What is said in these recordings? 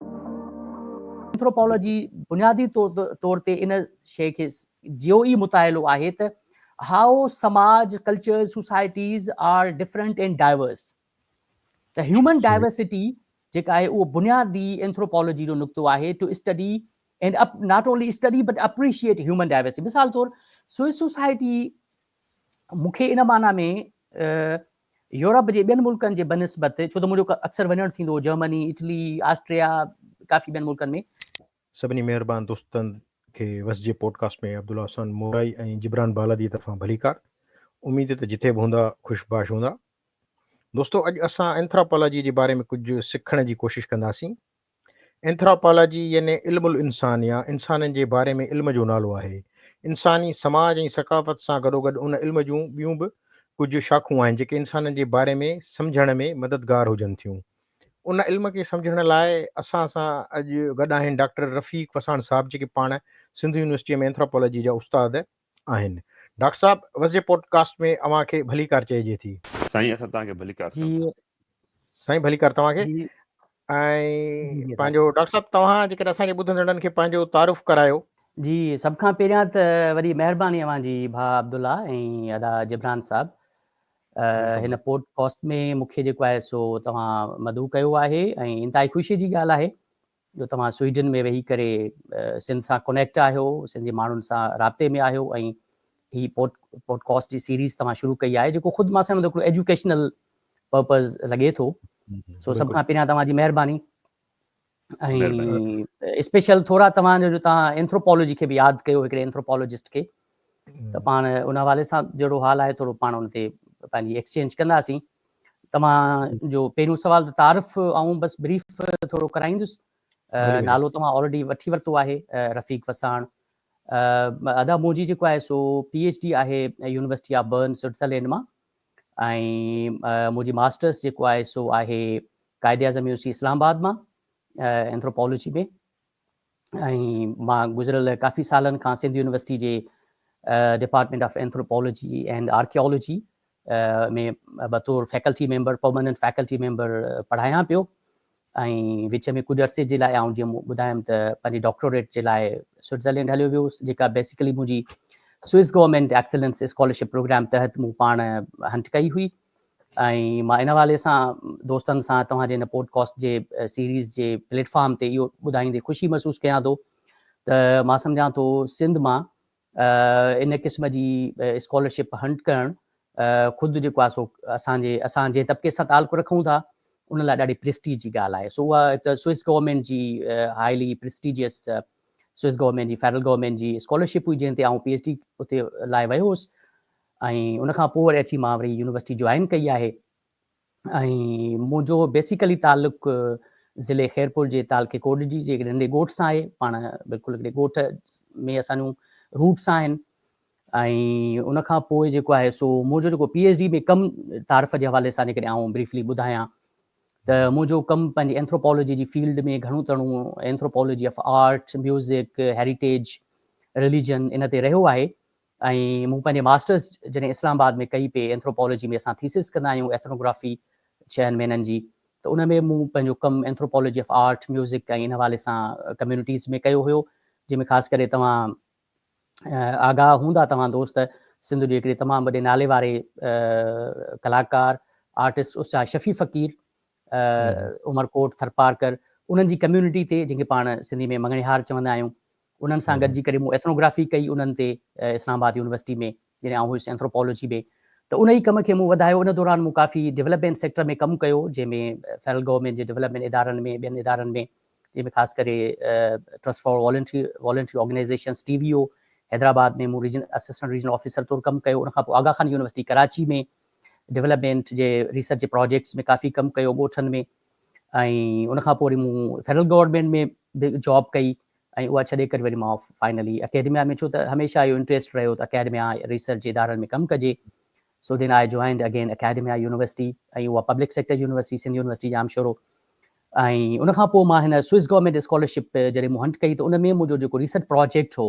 Anthropology بنيادي طور تي ان شيء کي جيو ئي متاهلو آهي ته هائو سماج، cultures, societies are different and diverse. ته هيومن ڊائيورسٽي جيڪا آهي اهو بنيادي اينٿروپالاجي جو نقطو آهي to study and up not only study but appreciate human diversity. مثال طور سوئس سوسائٽي مون کي ان معنيٰ ۾ يورپ جي ٻين ملڪن جي بنسبت ڇو ته منهنجو اڪثر وڃڻ ٿيندو هو جرمني، اٽلي، آسٽريا ڪافي ٻين ملڪن ۾. سڀني مهربان دوستن کي وس جي پوڊڪاسٽ ۾ عبدالله احسان مورائي ۽ جبران بالاديء طرفان ڀليڪار. اميد ته جتي به هوندا خوش باش هوندا. دوستو اڄ اسان اينٿراپالاجيء جي باري ۾ ڪجهه سکڻ جي ڪوشش ڪنداسين. اينٿراپالاجي يعني علم الانسان يا انسانن جي باري ۾ علم جو نالو آهي. انساني سماج ۽ ثقافت سان گڏوگڏ ان علم جون ٻيون به ڪجهه شاخون آهن جيڪي انسانن جي باري ۾ سمجهڻ ۾ مددگار هجن ٿيون. ان علم کي سمجهڻ لاء اسان سان اڄ گڏ آهن ڊاڪٽر رفيق وساڻ صاحب جيڪي پاڻ سنڌ يونيورسٽيء ۾ اينٿراپالاجي جا استاد آهن ڊاڪٽر صاحب وسجي پوڊ ڪاسٽ ۾ اوهان کي ڀليڪار چئجي ٿي. سائين اسان توهان کي ڀليڪار جي چئون ٿا. سائين ڀليڪار توهان کي جي ۽ جي پنهنجو ڊاڪٽر صاحب توهان جيڪڏهن اسان جي ٻڌندڙن کي پنهنجو تعارف ڪرايو. جي سڀ کان پهريان ته وڏي مهرباني اوهان جي ڀاء عبدالله ۽ ادا جبران صاحب هن پوڊ ڪاسٽ ۾ مون کي جيڪو آهي سو توهان مدعو ڪيو آهي ۽ انتهائي خوشي جي ڳالهه آهي جو توهان سوئيڊن ۾ ويهي ڪري سنڌ سان ڪونيڪٽ آهيو، سنڌ جي ماڻهن سان رابطي ۾ آهيو ۽ هي پوڊ پوڊڪاسٽ جي سيريز توهان شروع ڪئي آهي جيڪو خود مان سمجهان ٿو هڪڙو ايجوڪيشنل پرپز لڳي ٿو سو سڀ کان پهريان توهان جي مهرباني ۽ اسپيشل ٿورا توهان جو جو توهان اينٿروپالاجي کي به ياد ڪيو هڪڙي اينٿروپالاجسٽ کي ته پاڻ ان حوالي سان جهڙو حال آهي ٿورو پاڻ ان تي پنهنجي ايڪسچينج ڪنداسين توهان جو پهريون سوال ته تعارف آئون بس بريف ٿورو ڪرائيندس نالو توهان آلريڊي وٺي ورتو آهي رفيق وساڻ ادا منهنجي جيڪو آهي سو پي ايچ ڊي آهي يونيورسٽي آف برن سوئٽزرلينڊ مان ۽ منهنجي ماسٽرس جيڪو آهي سو آهي قائد اعظم يونیورسٽي اسلام آباد مان اينٿروپالوجي ۾ ۽ مان گذريل ڪافي سالن کان سنڌ يونيورسٽي جي department of anthropology and archaeology ۾ بطور faculty member permanent faculty member پڙهايان پيو ۽ وچ ۾ ڪجهه عرصي جي لاء آئون جيئن ٻڌايم ته پنهنجي ڊاڪٽوريٽ جي لاء سوئٽزرلينڊ هليو ويو هوس جيڪا بيسيڪلي منهنجي Swiss government excellence scholarship programme تحت مون پاڻ هنٽ ڪئي هئي ۽ مان ان حوالي سان دوستن سان توهان جي هن پوڊ ڪاسٽ جي سيريز جي پليٽ فارم تي اهو ٻڌائيندي خوشي محسوس ڪيان ٿو ته مان سمجهان ٿو سنڌ مان ان قسم جي اسڪالرشپ هنٽ ڪرڻ خود جيڪو آهي سو اسان جي اسان جنهن طبقي سان تعلق رکون ٿا ان لاء ڏاڍي پرسٽيج جي ڳالهه آهي سو اها هڪ سوئس گورنمينٽ جي هائلي پرسٽيجيس سوئس گورنمينٽ جي فيڊرل گورنمينٽ جي اسڪالرشپ هئي جنهن تي آئون پي ايچ ڊي اتي لاء ويو هوس ۽ ان کان پوء وري اچي مان وري يونيورسٽي جوائن ڪئي آهي ۽ منهنجو بيسيڪلي تعلق ضلعي خيرپور جي تعلقي ڪوڏجي جي هڪڙي ننڍي ڳوٺ سان آهي پاڻ بلڪل هڪڙي ڳوٺ ۾ اسان جون روٽس آهن ۽ ان کان پوء جيڪو آهي سو منهنجو جيڪو پي ايچ ڊي ۾ ڪم تعارف جي حوالي سان جيڪڏهن آئون بريفلي ٻڌايان ته منهنجو ڪم پنهنجي اينٿروپالوجي جي فيلڊ ۾ گهڻو تڻو anthropology of art music heritage religion ان تي رهيو آهي ۽ مون پنهنجي ماسٽرس جڏهن اسلام آباد ۾ ڪئي پي اينٿروپالاجي ۾ اسان ٿيسز ڪندا آهيون ايٿنوگرافي ڇهن مهينن جي ته ان ۾ مون پنهنجو ڪم اينٿروپالاجي آف آرٽ ميوزڪ ۽ ان حوالي سان ڪميونٽيز ۾ ڪيو هيو جنهن ۾ خاص ڪري توهان آگاهه هوندا توهان دوست سنڌ جي هڪڙي تمام وڏي نالي واري ڪلاڪار آرٽسٽ استاد شفيع فقير عمرڪوٽ ٿرپارڪر انهن جي ڪميونٽي تي جنهن کي پاڻ سنڌي ۾ مڱڻهار چوندا آهيون انهن سان گڏجي ڪري مون ايٿنوگرافي ڪئي انهن تي اسلام آباد يونيورسٽي ۾ جڏهن آئون هيس اينٿروپالاجي ۾ ته انهي ڪم کي مون وڌايو ان دوران مون ڪافي ڊولپمينٽ سيڪٽر ۾ ڪم ڪيو جنهن ۾ فيڊرل گورنمينٽ جي ڊولپمينٽ ادارن ۾ ٻين ادارن ۾ جنهن ۾ خاص ڪري trust for voluntary voluntary organisations T V O Hyderabad ۾ مون ريجنل اسسٽنٽ ريجنل آفيسر طور ڪم ڪيو ان کان پوء آغا خان يونيورسٽي ڪراچي ۾ ڊولپمينٽ جي ريسرچ جي پراجيڪٽس ۾ ڪافي ڪم ڪيو ڳوٺن ۾ ۽ ان کان پوء وري مون فيڊرل گورنمينٽ ۾ به جاب ڪئي ۽ اها ڇڏي ڪري وري مان فائنلي اڪيڊميا ۾ ڇو ته هميشه اهو انٽريسٽ رهيو ته اڪيڊميا ريسرچ ادارن ۾ ڪم ڪجي so then I joined again academia university ۽ اها public sector university Sindh university Jamshoro ۽ ان کان پوء مان هن سوئس گورنمينٽ اسڪالرشپ جڏهن مون هنٽ ڪئي ته ان ۾ منهنجو جيڪو ريسرچ پراجيڪٽ هو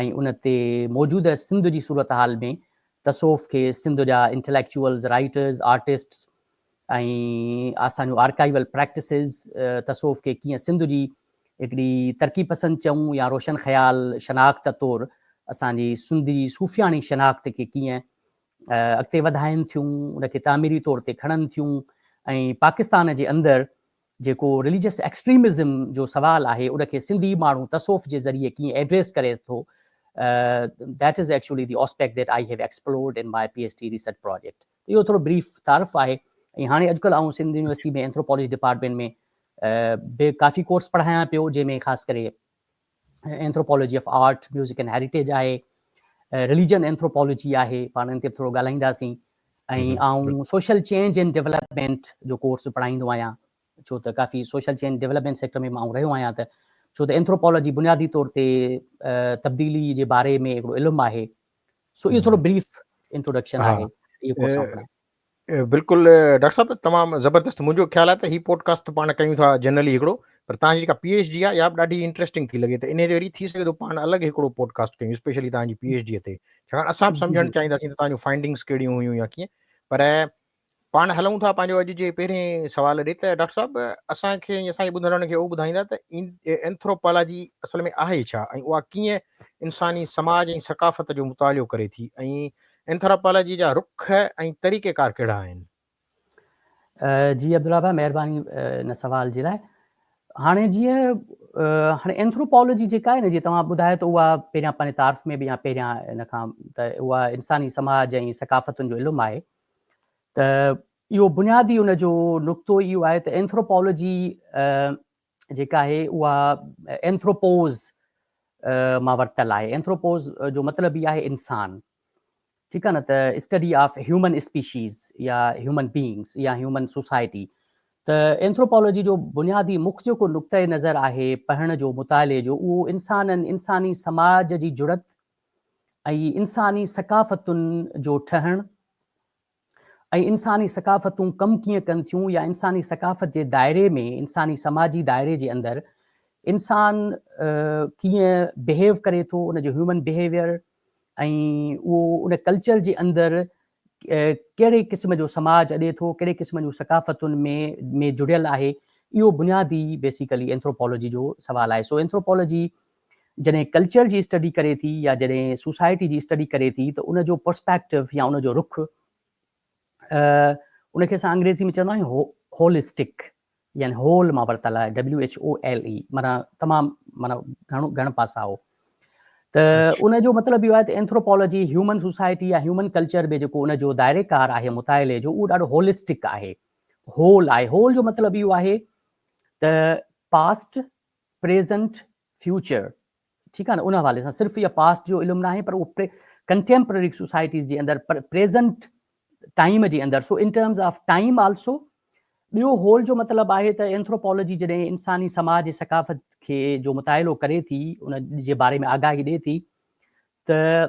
۽ ان تي موجوده سنڌ جي صورتحال ۾ تصوف کي سنڌ جا انٽليڪچوئلز، رائيٽرز، آرٽسٽس ۽ اسان جون آرڪائيول پريڪٽسز تصوف کي ڪيئن سنڌ جي هڪڙي ترقي پسند چئون يا روشن خيال شناخت طور اسان جي سنڌ جي صوفياڻي شناخت کي ڪيئن اڳتي وڌائين ٿيون، ان کي تعميري طور تي کڻن ٿيون ۽ پاڪستان جي اندر جيڪو رليجس ايڪسٽريمزم جو سوال آهي ان کي سنڌي ماڻهو تصوف جي ذريعي ڪيئن ايڊريس ڪري ٿو That is actually the aspect that I have explored in my PhD research project. ته اهو ٿورو بريف تعارف آهي ۽ هاڻي اڄڪلهه آئون سنڌ يونيورسٽي ۾ اينٿروپالاجي ڊپارٽمينٽ ۾ به ڪافي ڪورس پڙهايان پيو جنهن ۾ خاص ڪري anthropology of art, music and heritage آهي، رليجن اينٿروپالاجي آهي، پاڻ ان تي به ٿورو ڳالهائينداسين. ۽ آئون سوشل چينج اينڊ ڊيولپمينٽ جو ڪورس به پڙهائيندو آهيان، ڇو ته ڪافي سوشل چينج ڊيولپمينٽ سيڪٽر ۾ به آئون رهيو آهيان ته ڇو ته اينٿروپالاجي بنيادي طور تي تبديلي جي باري ۾ هڪڙو علم آهي. سو اهو ٿورو بريف انٽروڊڪشن آهي. بلڪل ڊاڪٽر صاحب تمام زبردست منهنجو خيال آهي ته هي پوڊڪاسٽ ته پاڻ ڪيون ٿا جنرلي هڪڙو پر تهان جي جيڪا پي ايڇ ڊي آهي اها به ڏاڍي انٽريسٽنگ ٿي لڳي ته انهي تي وري ٿي سگهي ٿو پاڻ الڳ هڪڙو پوڊڪاسٽ ڪيون اسپيشلي تهان جي پي ايڇ ڊي تي ڇاڪاڻ اسان به سمجهڻ چاهينداسين ته تهان جون فائنڊنگس ڪهڙيون هيون يا ڪيئن پر پاڻ هلون ٿا پنهنجو اڄ جي پهرين سوال ڏي ته ڊاڪٽر صاحب اسان کي ۽ اسان جي ٻڌندڙن کي اهو ٻڌائيندا ته اينٿروپالاجي اصل ۾ آهي ڇا ۽ اها ڪيئن انساني سماج ۽ ثقافت جو مطالعو ڪري ٿي ۽ اينٿراپالاجي جا رخ ۽ طريقيڪار ڪهڙا آهن؟ جي عبدالله ڀاء مهرباني ان سوال جي لاء هاڻي جيئن هاڻي اينٿروپالوجي جيڪا آهي نه جي توهان ٻڌايو ته اها پهريان پنهنجي تعارف ۾ به يا پهريان ان کان ته اها انساني سماج ۽ ثقافتن جو علم آهي ته اهو بنيادي ان جو نقطو اهو آهي ته اينٿروپالوجي جيڪا آهي اها اينٿروپوز مان ورتل آهي اينٿروپوز جو مطلب ئي آهي انسان ٺيڪ آهي نه ته اسٽڊي آف هيومن اسپيشيز يا هيومن بينگس يا هيومن سوسائٽي ته اينٿروپالوجي جو بنيادي مک جيڪو نقطه نظر آهي پڙهڻ جو مطالعي جو اهو انسانن انساني سماج جي جڙت ۽ انساني ثقافتن جو ٺهڻ ۽ انساني ثقافتون ڪم ڪيئن ڪن ٿيون يا انساني ثقافت جي دائري ۾ انساني سماجي دائري جي اندر انسان ڪيئن بهيو ڪري ٿو ان جو هيومن بهيويئر ۽ اهو ان ڪلچر جي اندر ڪهڙي قسم جو سماج اڏي ٿو ڪهڙي قسم جون ثقافتن ۾ ۾ جڙيل آهي اهو بنيادي بيسيڪلي اينٿروپالاجي جو سوال آهي سو اينٿروپالاجي جڏهن ڪلچر جي اسٽڊي ڪري ٿي يا جڏهن سوسائٽي جي اسٽڊي ڪري ٿي ته ان جو پرسپيڪٽو يا ان جو رخ ان کي اسان انگريزي ۾ چوندا آهيون هولسٽڪ يعني هول مان ورتل آهي W H O L E مانا تمام مانا گهڻو گهڻ پاسا هو ته ان جو مطلب اهو آهي ته اينٿروپالوجي هيومن سوسائٽي يا هيومن ڪلچر به جيڪو ان جو دائري ڪار آهي مطالعي جو اهو ڏاڍو هولسٽڪ آهي هول آهي هول جو مطلب اهو آهي ته پاسٽ پريزنٽ، فيوچر ٺيڪ آهي نه ان حوالي سان صرف اها پاسٽ جو علم ناهي پر اهو ڪنٽيمپرري سوسائٽيز جي اندر پريزنٽ ٽائيم جي اندر so in terms of time also ٻيو هول جو مطلب آهي ته اينٿروپالوجي جڏهن انساني سماج جي ثقافت کي جو مطالعو ڪري ٿي ان جي باري ۾ آگاهي ڏي ٿي ته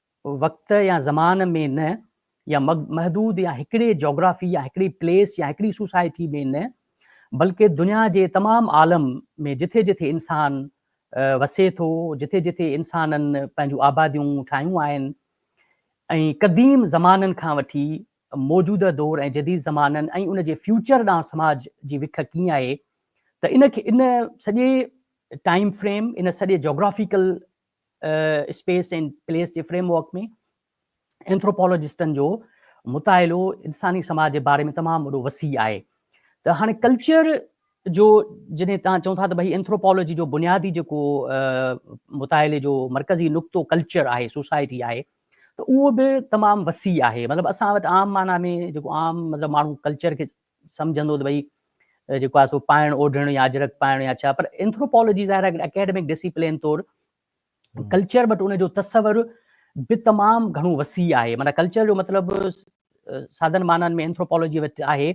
وقت يا زمان ۾ نه يا محدود يا هڪڙي جاگرافي يا هڪڙي پليس يا هڪڙي سوسائٽي ۾ نه بلڪه دنيا جي تمام عالم ۾ جٿي جٿي انسان وسي ٿو جٿي جٿي انسانن پنهنجون آباديون ٺاهيون آهن ۽ قديم زمانن کان وٺي موجوده دور ۽ جديد زمانن ۽ ان جي فيوچر ڏانهن سماج جي وک ڪيئن آهي ته ان کي ان سڄي ٽائيم فريم ان سڄي جاگرافيڪل اسپيس اينڊ پليس جي فريم ورڪ ۾ اينٿروپالاجسٽن جو مطالعو انساني سماج جي باري ۾ تمام وڏو وسيع آهي ته هاڻي ڪلچر جو جڏهن توهان چئو ٿا ته ڀئي اينٿروپالاجي جو بنيادي جيڪو مطالعي جو مرڪزي نقطو ڪلچر آهي سوسائٽي آهي ته اهو به تمام وسيع آهي مطلب اسان وٽ عام معنيٰ ۾ جيڪو عام مطلب ماڻهو ڪلچر کي سمجهندو ته ڀئي جيڪو آهي سو پائڻ اوڍڻ يا اجرڪ پائڻ يا ڇا پر اينٿروپالاجي ظاهر آهي اڪيڊمڪ ڊسيپلين طور ڪلچر بٽ ان جو تصور به تمام گهڻو وسيع آهي معنی ڪلچر جو مطلب سادن معنن ۾ اينٿروپالاجي وٽ آهي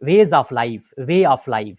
ways of life way of life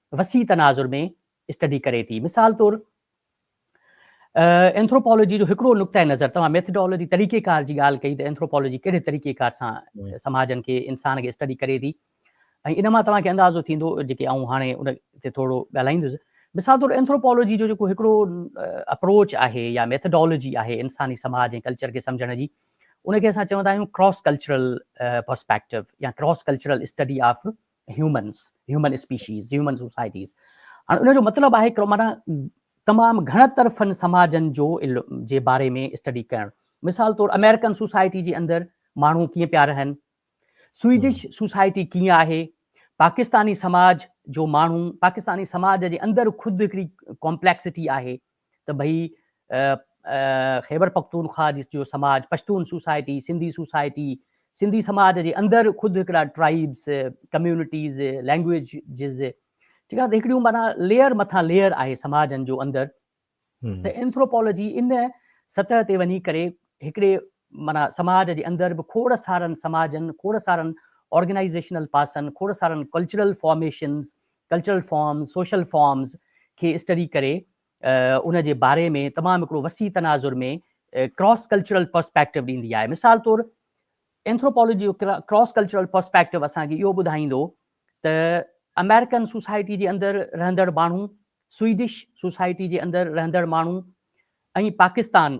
وسيع تناظر ۾ اسٽڊي ڪري ٿي. مثال طور اينٿروپالاجي جو هڪڙو نقطه نظر، توهان ميٿڊالاجي طريقه ڪار جي ڳالهه ڪئي ته اينٿروپالاجي ڪهڙي طريقه ڪار سان سماجن کي انسان کي اسٽڊي ڪري ٿي ۽ ان مان توهان کي اندازو ٿيندو جيڪي آئون هاڻي ان تي ٿورو ڳالهائيندس. مثال طور اينٿروپالاجي جو جيڪو هڪڙو اپروچ آهي يا ميٿڊالاجي آهي انساني سماج ۽ ڪلچر کي سمجهڻ جي ان کي اسان چوندا آهيون ڪراس ڪلچرل پرسپيڪٽو يا cross cultural study of humans, human species, human societies. هاڻ ان جو مطلب آهي هڪڙو معنيٰ تمام گهڻ طرفن سماجن جو جي باري ۾ اسٽڊي ڪرڻ. مثال طور آمريڪن سوسائٽي جي اندر ماڻهو ڪيئن پيا رهن، سوئيڊش سوسائٽي ڪيئن آهي، پاڪستاني سماج جو ماڻهو، پاڪستاني سماج جي اندر خود هڪڙي ڪامپليڪسٽي آهي، ته ڀئي خيبرپختونخوا جو سماج، پشتون سوسائٽي، سنڌي سوسائٽي، سنڌي سماج جي اندر خود هڪڙا ٽرائيبس، ڪميونٽيز، لينگوئيجز، ٺيڪ آهي ته هڪڙيون معنيٰ ليئر مٿان ليئر آهي سماجن جو اندر ته اينٿروپالاجي ان سطح تي وڃي ڪري هڪڙي معنيٰ سماج جي اندر به کوڙ سارن سماجن، کوڙ سارن آرگنائيزيشنل پاسن، کوڙ سارن cultural formations, cultural forms, social forms کي اسٽڊي ڪري ان جي باري ۾ تمام هڪڙو وسيع تناظر ۾ ڪراس ڪلچرل پرسپيڪٽو ڏيندي آهي. مثال طور اينٿروپالاجي جو ڪراس ڪلچرل پرسپيڪٽو اسان کي اهو ٻڌائيندو ته آمريڪن سوسائٽي جي اندر رهندڙ ماڻهو، سوئيڊش سوسائٽي جي اندر رهندڙ ماڻهو ۽ پاڪستان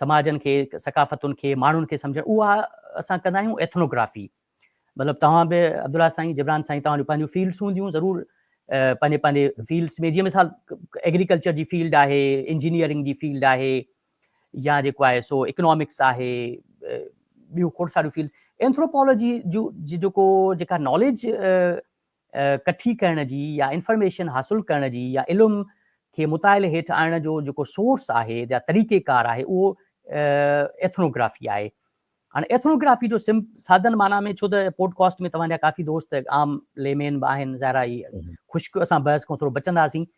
سماجن کي، ثقافتن کي، ماڻهن کي سمجهڻ اها اسان ڪندا آهيون ايٿنوگرافي مطلب توهان به عبدالله سائين، جبران سائين توهان جون پنهنجون فيلڊس هونديون ضرور پنهنجي پنهنجي فيلڊس ۾ جيئن مثال ايگريڪلچر جي فيلڊ آهي، انجنيئرنگ جي فيلڊ آهي يا جيڪو آهي سو اڪنامڪس آهي ٻيون کوڙ ساريون فيلڊس اينٿروپالاجي جون جيڪو جيڪا ناليج ڪٺي ڪرڻ جي يا انفارميشن حاصل ڪرڻ جي يا علم کي مطالعي هيٺ آڻڻ جو جيڪو سورس آهي يا طريقي ڪار آهي اهو ايٿنو گرافي آهي. هاڻي ايٿنو گرافي جو سم سادن معنيٰ ۾ ڇو ته پوڊ ڪاسٽ ۾ توهان جا ڪافي دوست عام لي مين به آهن ظاهر آهي خشڪ اسان بحث کان ٿورو بچنداسين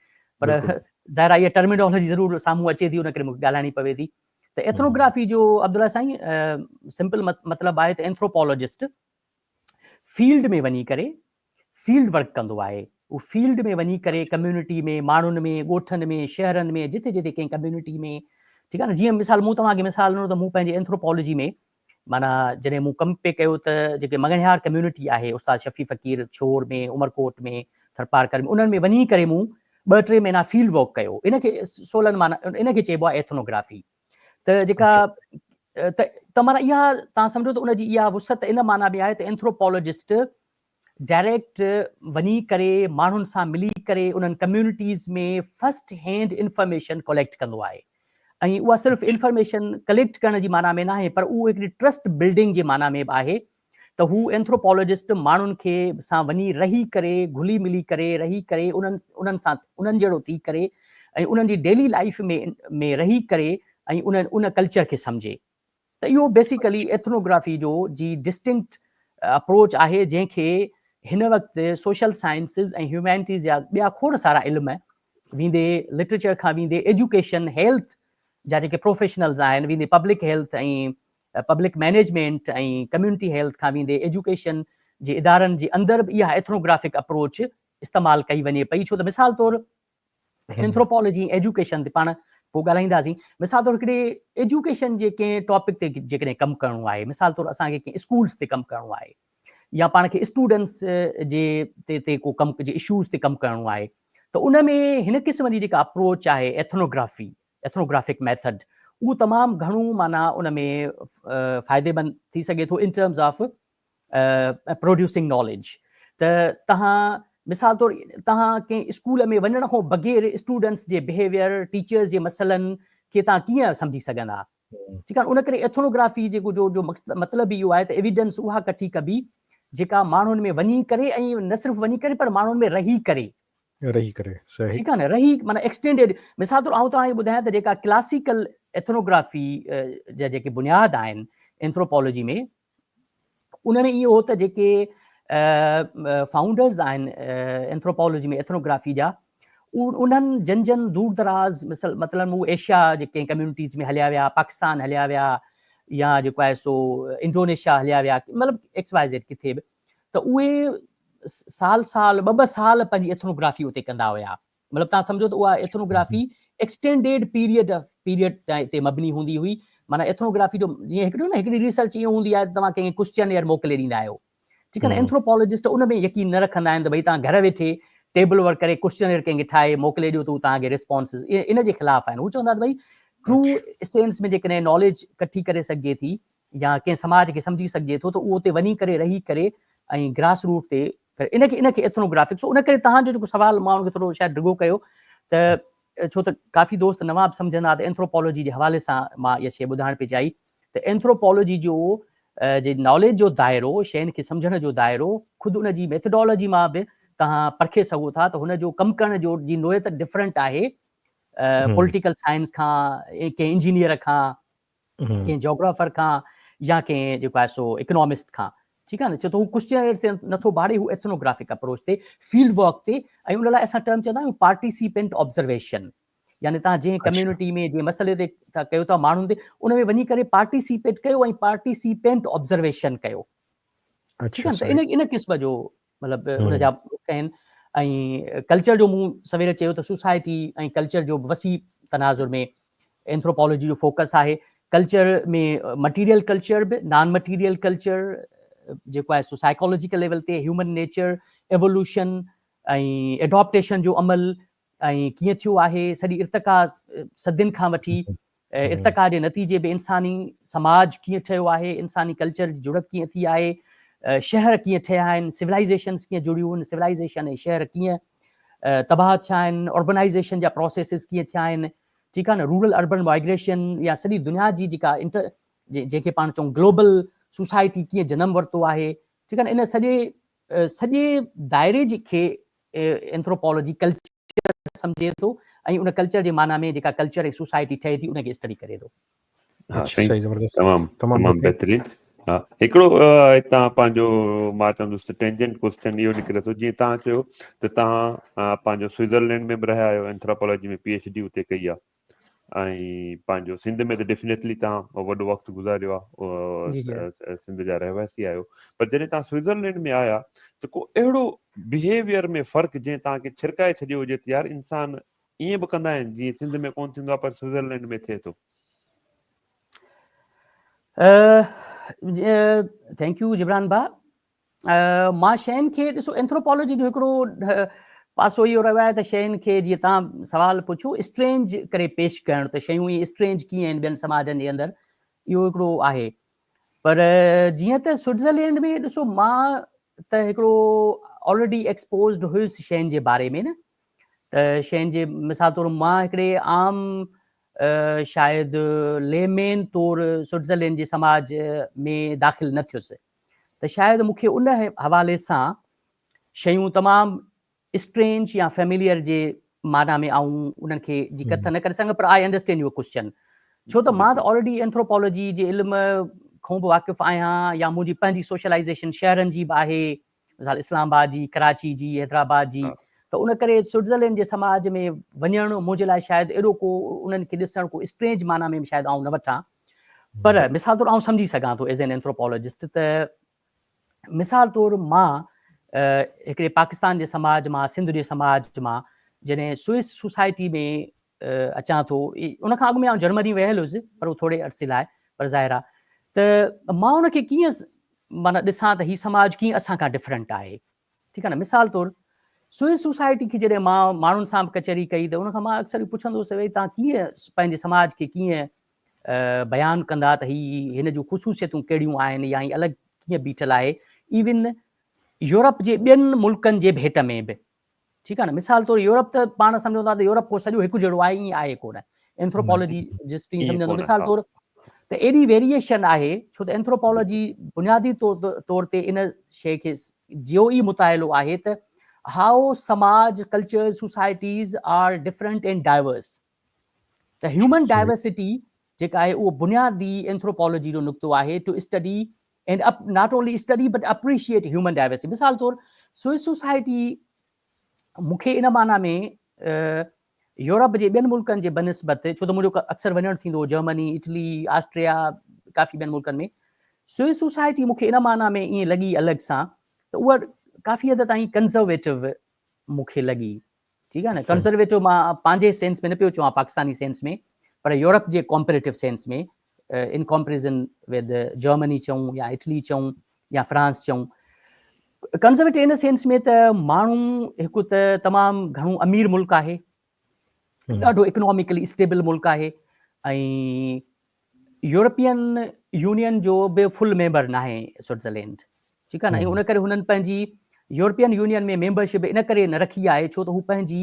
پر ظاهر آهي اها ٽرمينالوجي ضرور سامهون اچي ٿي ان ڪري مونکي ڳالهائڻي پوي ٿي ته ايٿنو گرافي جو عبدالله سائين سمپل مطلب آهي ته اينٿروپالوجسٽ فيلڊ ۾ وڃي ڪري فيلڊ ورڪ ڪندو آهي هو فيلڊ ۾ وڃي ڪري ڪميونٽي ۾ ماڻهن ۾ ڳوٺن ۾ شهرن ۾ جتي جتي ڪنهن ڪميونٽي ۾ ٺيڪ آهي نه جيئن مثال مون توهان کي مثال ڏنو ته مون پنهنجي اينٿروپالوجي ۾ مانا جڏهن مون ڪم پي ڪيو ته جيڪي مڱڻهار ڪميونٽي آهي استاد شفيع فقير ڇور ۾ عمرڪوٽ ۾ ٿرپارڪر ۾ انهن ۾ وڃي ڪري مون ٻه ٽي مهينا فيلڊ ورڪ ڪيو ان کي سولن مانا ان کي چئبو آهي ايٿنوگرافي ته جيڪا ته ته مانا اها تان سمجھو ته ان جي اها وسعت ان معنيٰ ۾ آهي ته اينٿروپالاجسٽ ڊائريڪٽ وڃي ڪري ماڻهن سان ملي ڪري انهن communities ۾ first hand information collect ڪندو آهي ۽ اها صرف انفارميشن ڪليڪٽ ڪرڻ جي معنيٰ ۾ ناهي پر اهو هڪڙي ٽرسٽ بلڊنگ جي معنيٰ ۾ به آهي ته هو اينٿروپالاجسٽ ماڻهن کي سان وڃي رهي ڪري گهلي ملي ڪري رهي ڪري انهن انهن سان انهن جهڙو ٿي ڪري ۽ انهن جي ڊيلي لائيف ۾ ۾ رهي ڪري ۽ ان ان ڪلچر کي سمجهي ته اهو بيسيڪلي ايٿنوگرافي جو جي ڊسٽنڪٽ اپروچ آهي جنهن کي هن وقت سوشل سائنسز ۽ هيومينٽيز جا ٻيا کوڙ سارا علم ويندي لٽريچر کان ويندي ايجوڪيشن هيلٿ جا جيڪي پروفيشنلز آهن ويندي public health ۽ public management ۽ community health کان ويندي ايجوڪيشن جي ادارن جي اندر به اها ايٿنوگرافڪ اپروچ استعمال ڪئي وڃي پئي ڇو ته مثال طور اينٿروپالاجي ۽ ايجوڪيشن تي پاڻ پوء ڳالهائينداسين مثال طور هڪڙي ايجوڪيشن جي ڪنهن ٽاپڪ تي جيڪڏهن ڪم ڪرڻو آهي مثال طور اسان کي ڪنهن اسڪولس تي ڪم ڪرڻو آهي يا پاڻ کي اسٽوڊنس جي تي ڪو ڪم جي اشوز تي ڪم ڪرڻو آهي ته ان ۾ هن قسم جي جيڪا اپروچ آهي ايٿنوگرافي ايٿنوگرافڪ ميٿڊ اهو تمام گهڻو معنيٰ ان ۾ فائديمند ٿي سگهي ٿو in terms of producing knowledge ته تهان مثال طور تهان ڪنهن اسڪول ۾ وڃڻ کان بغير اسٽوڊنٽس جي بهيويئر ٽيچرس جي مسئلن کي تهان ڪيئن سمجهي سگهندا ٺيڪ آهي ان ڪري ايٿنوگرافي جيڪو جو جو مطلب اهو آهي ته ايويڊنس اها ڪٺي ڪبي جيڪا ماڻهن ۾ وڃي ڪري ۽ نه صرف وڃي ڪري پر ماڻهن ۾ رهي ڪري رهي ڪري سهي. ٺيڪ آهي نه رهي معنيٰ ايڪسٽينڊيڊ مثال طور آئون توهان کي ٻڌايان ته جيڪا ڪلاسيڪل ايٿنوگرافي جا جيڪي بنياد آهن اينٿروپالاجي ۾ ان ۾ اهو ته جيڪي فائونڊرز آهن اينٿروپالاجي ۾ ايٿنوگرافي جا انهن جن جن دور دراز مثل مطلب هو ايشيا جي ڪنهن ڪميونٽيز ۾ هليا ويا پاڪستان هليا ويا يا جيڪو آهي سو انڊونيشيا هليا ويا مطلب ايڪس واء زيڊ ڪٿي به ته اهي سال سال ٻه ٻه سال پنهنجي ايٿنوگرافي اتي ڪندا هيا مطلب تان سمجهو ته اها ايٿنوگرافي ايڪسٽينڊيڊ پيريڊ پيريڊ تي مبني هوندي هئي معنی ايٿنوگرافي جو جيئن هڪڙو نه هڪڙي ريسرچ ائين هوندي آهي توهان ڪنهن ڪوشچن ايئر موڪلي ڏيندا آهيو ٺيڪ آهي اينٿروپولوجسٽ ان ۾ يقين نه رکندا آهن ته ڀئي تان گهر ويٺي ٽيبل ورڪ ڪري ڪوشچن ايئر ڪنهن کي ٺاهي موڪلي ڏيو ته هو توهان کي ريسپانس ان جي خلاف آهن هو چوندا ته ڀئي ٽرو سينس ۾ جيڪڏهن ناليج ڪٺي ڪري سگهجي ٿي يا ڪنهن سماج کي سمجهي سگهجي ٿو ته اهو اتي وڃي ڪري رهي ڪري ۽ گراس روٽ تي ان کي ان کي ايٿنو گرافڪس ان ڪري توهان جو جيڪو سوال مان ان کي ٿورو شايد ڊگهو ڪيو ته ڇو ته ڪافي دوست نوان به سمجهندا ته اينٿروپالوجي جي حوالي سان مان اها شيء ٻڌائڻ پئي چاهي ته اينٿروپالوجي جو جي ناليج جو دائرو شين کي سمجهڻ جو دائرو خود ان جي ميٿڊالوجي مان به توهان پرکي سگهو ٿا ته هن جو ڪم ڪرڻ جو جي نوعيت ڊفرنٽ آهي پوليٽيڪل سائنس کان ڪنهن انجنيئر کان ڪنهن جاگرافر کان يا ڪنهن جيڪو آهي سو اڪنامسٽ کان ٺيڪ آهي نه چئو ته هو ڪوشچن عرصي نٿو ڀاڙي هو ايٿنوگرافڪ اپروچ تي فيلڊ ورڪ تي ۽ ان لاء اسان ٽرم چوندا آهيون پارٽيسيپنٽ آبزرويشن يعني تان جي ڪميونٽي ۾ جي مسئلي تي ٿا ڪيو ٿا ماڻهن تي ان ۾ وڃي ڪري پارٽيسيپيٽ ڪيو ۽ پارٽيسيپنٽ آبزرويشن ڪيو ٺيڪ آهي ان ان قسم جو مطلب ان جا بوڪ آهن ۽ ڪلچر جو مون سوير چيو ته سوسائٽي ۽ ڪلچر جو وسيع تناظر ۾ اينٿروپالاجي جو فوڪس آهي ڪلچر ۾ مٽيريل ڪلچر به نان مٽيريل ڪلچر جيڪو آهي سو سائيڪالاجيڪل ليول تي هيومن نيچر ايوولوشن ۽ ايڊاپٽيشن جو عمل ائين ڪيئن ٿيو آهي؟ سڄي ارتقا صدين کان وٺي ارتقا جي نتيجي ۾ انساني سماج ڪيئن ٺهيو آهي، انساني ڪلچر جي جڙت ڪيئن ٿي آهي، شهر ڪيئن ٺهيا آهن، سولائيزيشنز ڪيئن جڙيون آهن، سولائيزيشن ۽ شهر ڪيئن تباهه ٿيا آهن، اربنائيزيشن جا پروسيسز ڪيئن ٿيا آهن، ٺيڪ آهي نه، رورل اربن مائگريشن يا سڄي دنيا جي جيڪا انٽر جنهن کي پاڻ چئون گلوبل سوسائٽي ڪيئن جنم ورتو آهي، ٺيڪ آهي نه، ان سڄي سڄي دائري جي کي اينٿروپالاجي ڪلچر سمجهي ٿو ۽ ان ڪلچر جي معنيٰ ۾ جيڪا ڪلچر ۽ سوسائٽي ٺهي ٿي ان کي اسٽڊي ڪري ٿو. ها سائين تمام تمام بهترين ها هڪڙو هتان پنهنجو مان چوندس ته ٽينجنٽ ڪويسچن اهو نڪري ٿو جيئن تان چيو ته تان پنهنجو سوئيزرلينڊ ۾ به رهيا آهيو اينٿراپالاجي ۾ پي ايڇ ڊي اتي ڪئي آهي ۽ پنهنجو سنڌ ۾ ته ڊيفنيٽلي توهان وڏو وقت گذاريو آهي سنڌ جا رهواسي آهيو پر جڏهن توهان سوئٽزرلينڊ ۾ آيا ته ڪو اهڙو بهيويئر ۾ فرق جنهن توهان کي ڇرڪائي ڇڏيو هجي ته يار انسان ائين به ڪندا آهن جيئن سنڌ ۾ ڪون ٿيندو آهي پر سوئٽزرلينڊ ۾ ٿئي ٿو ٿينڪ يو جبران ڀا مان شين کي ڏسو اينٿروپالاجي جو هڪڙو پاسو اهو رهيو آهي ته شين کي جيئن تان سوال پڇو اسٽرينج ڪري پيش ڪرڻ ته شيون اهي اسٽرينج ڪيئن آهن ٻين سماجن جي اندر اهو هڪڙو آهي پر جيئن ته سوئٽزرلينڊ ۾ ڏسو مان ته هڪڙو آلريڊي ايڪسپوزڊ هيس شين جي باري ۾ نه ته شين جي مثال طور مان هڪڙي عام شايد ليمين طور سوئٽزرلينڊ جي سماج ۾ داخل نه ٿيس ته شايد مون کي ان حوالي سان شيون تمام اسٽرينج يا فيمليئر جي معنيٰ ۾ آئون انهن کي جي ڪٿ نه ڪري سگهندم پر آء انڊرسٽينڊ يور ڪوشچن ڇو ته مان ته آلريڊي اينٿروپالاجي جي علم کون به واقف آهيان يا منهنجي پنهنجي سوشلائيزيشن شهرن جي به آهي مثال اسلام آباد جي ڪراچي جي حيدرآباد جي ته ان ڪري سوئٽزرلينڊ جي سماج ۾ وڃڻ منهنجي لاء شايد ايڏو ڪو انهن کي ڏسڻ ڪو اسٽرينج معنيٰ ۾ شايد آئون نه وٺان پر مثال طور آئون سمجهي سگهان ٿو ايز اين اينٿروپالاجسٽ ته مثال طور مان هڪڙي پاڪستان جي سماج مان سنڌ جي سماج مان جڏهن سوئس سوسائٽي ۾ اچان ٿو ان کان اڳ ۾ آئون جرمني ويل هيس پر ٿوري عرصي لاء پر ظاهر آ ته مان ان کي ڪيئن مانا ڏسان ته هي سماج ڪيئن اسان کان ڊفرنٽ آهي ٺيڪ آهي نه مثال طور سوئس سوسائٽي کي جڏهن مان ماڻهن سان به ڪچهري ڪئي ته ان کان مان اڪثر پڇندو هوس ته ڀئي توهان ڪيئن پنهنجي سماج کي ڪيئن بيان ڪندا ته هي هن جون خصوصيتون ڪهڙيون آهن يا هي الڳ ڪيئن بيٺل آهي ايون يورپ جي ٻين ملڪن جي ڀيٽ ۾ به ٺيڪ آهي نه مثال طور يورپ ته پاڻ سمجهون ٿا ته يورپ ڪو سڄو هڪ جهڙو آهي ائين آهي ڪو نه اينٿروپالاجي جس تي سمجهندو مثال طور ته ايڏي ويريئيشن آهي ڇو ته اينٿروپالاجي بنيادي طور تي ان شيء کي جيو ئي مطالعو آهي ته هائو سماج cultures societies are different and diverse ته هيومن ڊائيورسٽي جيڪا آهي اهو بنيادي اينٿروپالاجي جو نقطو آهي to study and not only study but appreciate human diversity مثال طور سوئس سوسائٽي مون کي ان معنيٰ ۾ يورپ جي ٻين ملڪن جي بنسبت ڇو ته منهنجو اڪثر وڃڻ ٿيندو هو جرمني اٽلي آسٽريا ڪافي ٻين ملڪن ۾ سوئس سوسائٽي مون کي ان معنيٰ ۾ ائين لڳي الڳ سان ته اها ڪافي حد تائين ڪنزرويٽو مون کي لڳي ٺيڪ آهي نه ڪنزرويٽو مان پنهنجي سينس ۾ نه پيو چوان پاڪستاني سينس ۾ پر يورپ جي comparative sense ۾ in comparison with Germany چئون يا اٽلي چئون يا فرانس چئون ڪنزرويٽو ان سينس ۾ ته ماڻهو هڪ ته تمام گهڻو امير ملڪ آهي ڏاڍو اڪناميڪلي اسٽيبل ملڪ آهي ۽ يورپين يونين جو به فل ميمبر ناهي سوئٽزرلينڊ ٺيڪ آهي نه ان ڪري هنن پنهنجي يورپين يونين ۾ ميمبرشپ ان ڪري نه رکي آهي ڇو ته هو پنهنجي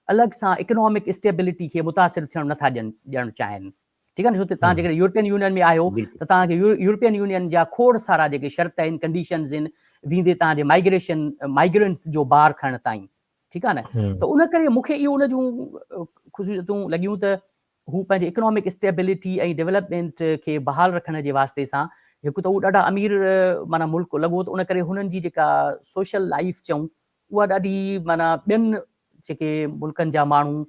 الڳ سان اڪنامڪ اسٽيبلٽي کي متاثر ٿيڻ نٿا ڏيڻ چاهين ٺيڪ آهي نه ڇو ته توهان جيڪڏهن يورپين يونين ۾ آهيو ته توهان کي يورپين يونين جا کوڙ سارا جيڪي شرط آهن ڪنڊيشنز آهن ويندي توهان جي مائگريشن مائگرنس جو بار کڻڻ تائين ٺيڪ آهي نه ته ان ڪري مون کي اهو ان جون خصوصيتون لڳيون ته هو پنهنجي اڪنامڪ اسٽيبلٽي ۽ ڊولپمينٽ کي بحال رکڻ جي واسطي سان هڪ ته هو ڏاڍا امير معنيٰ ملڪ لڳو ته ان ڪري هنن جي جيڪا سوشل لائيف چئون اها ڏاڍي معنيٰ ٻين جيڪي ملڪن جا ماڻهو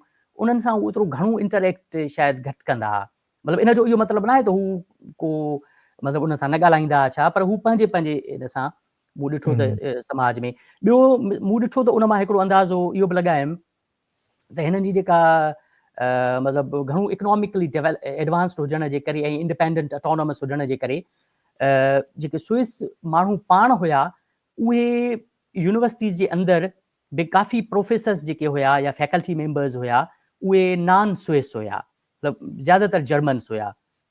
انهن سان هو ايترو گهڻو انٽريڪٽ شايد گهٽ ڪندا ها مطلب ان جو اهو مطلب ناهي ته هو ڪو مطلب انهن سان نه ڳالهائيندا ها ڇا پر هو پنهنجي پنهنجي ان سان مون ڏٺو ته سماج ۾ ٻيو مون ڏٺو ته ان مان هڪڙو اندازو اهو به لڳايم ته هنن جي جيڪا مطلب گهڻو اڪناميڪلي ايڊوانسڊ هجڻ جي ڪري ۽ انڊپينڊنٽ اٽانومس هجڻ جي ڪري جيڪي سوئس ماڻهو پاڻ هيا اهي يونيورسٽيز جي اندر به ڪافي پروفيسرس جيڪي هيا يا فيڪلٽي ميمبرز هيا اهي نان سوئس هيا مطلب زيادهتر جرمنس هيا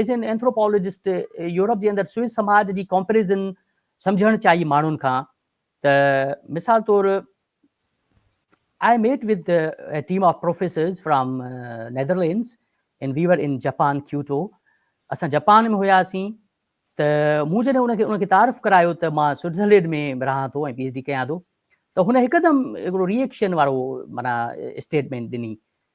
ايز اين اينٿروپالاجسٽ يورپ جي اندر سوئس سماج جي ڪمپريزن سمجهڻ چاهي ماڻهن کان ته مثال طور I met with a team of professors from Netherlands and we were in Japan Kyoto اسان جپان ۾ هياسين ته مون جڏهن ان کي ان کي تعارف ڪرايو ته مان سوئٽزرلينڊ ۾ رهان ٿو ۽ پي ايچ ڊي ڪيان ٿو ته هن هڪدم هڪڙو ريئيڪشن وارو معنيٰ اسٽيٽمينٽ ڏني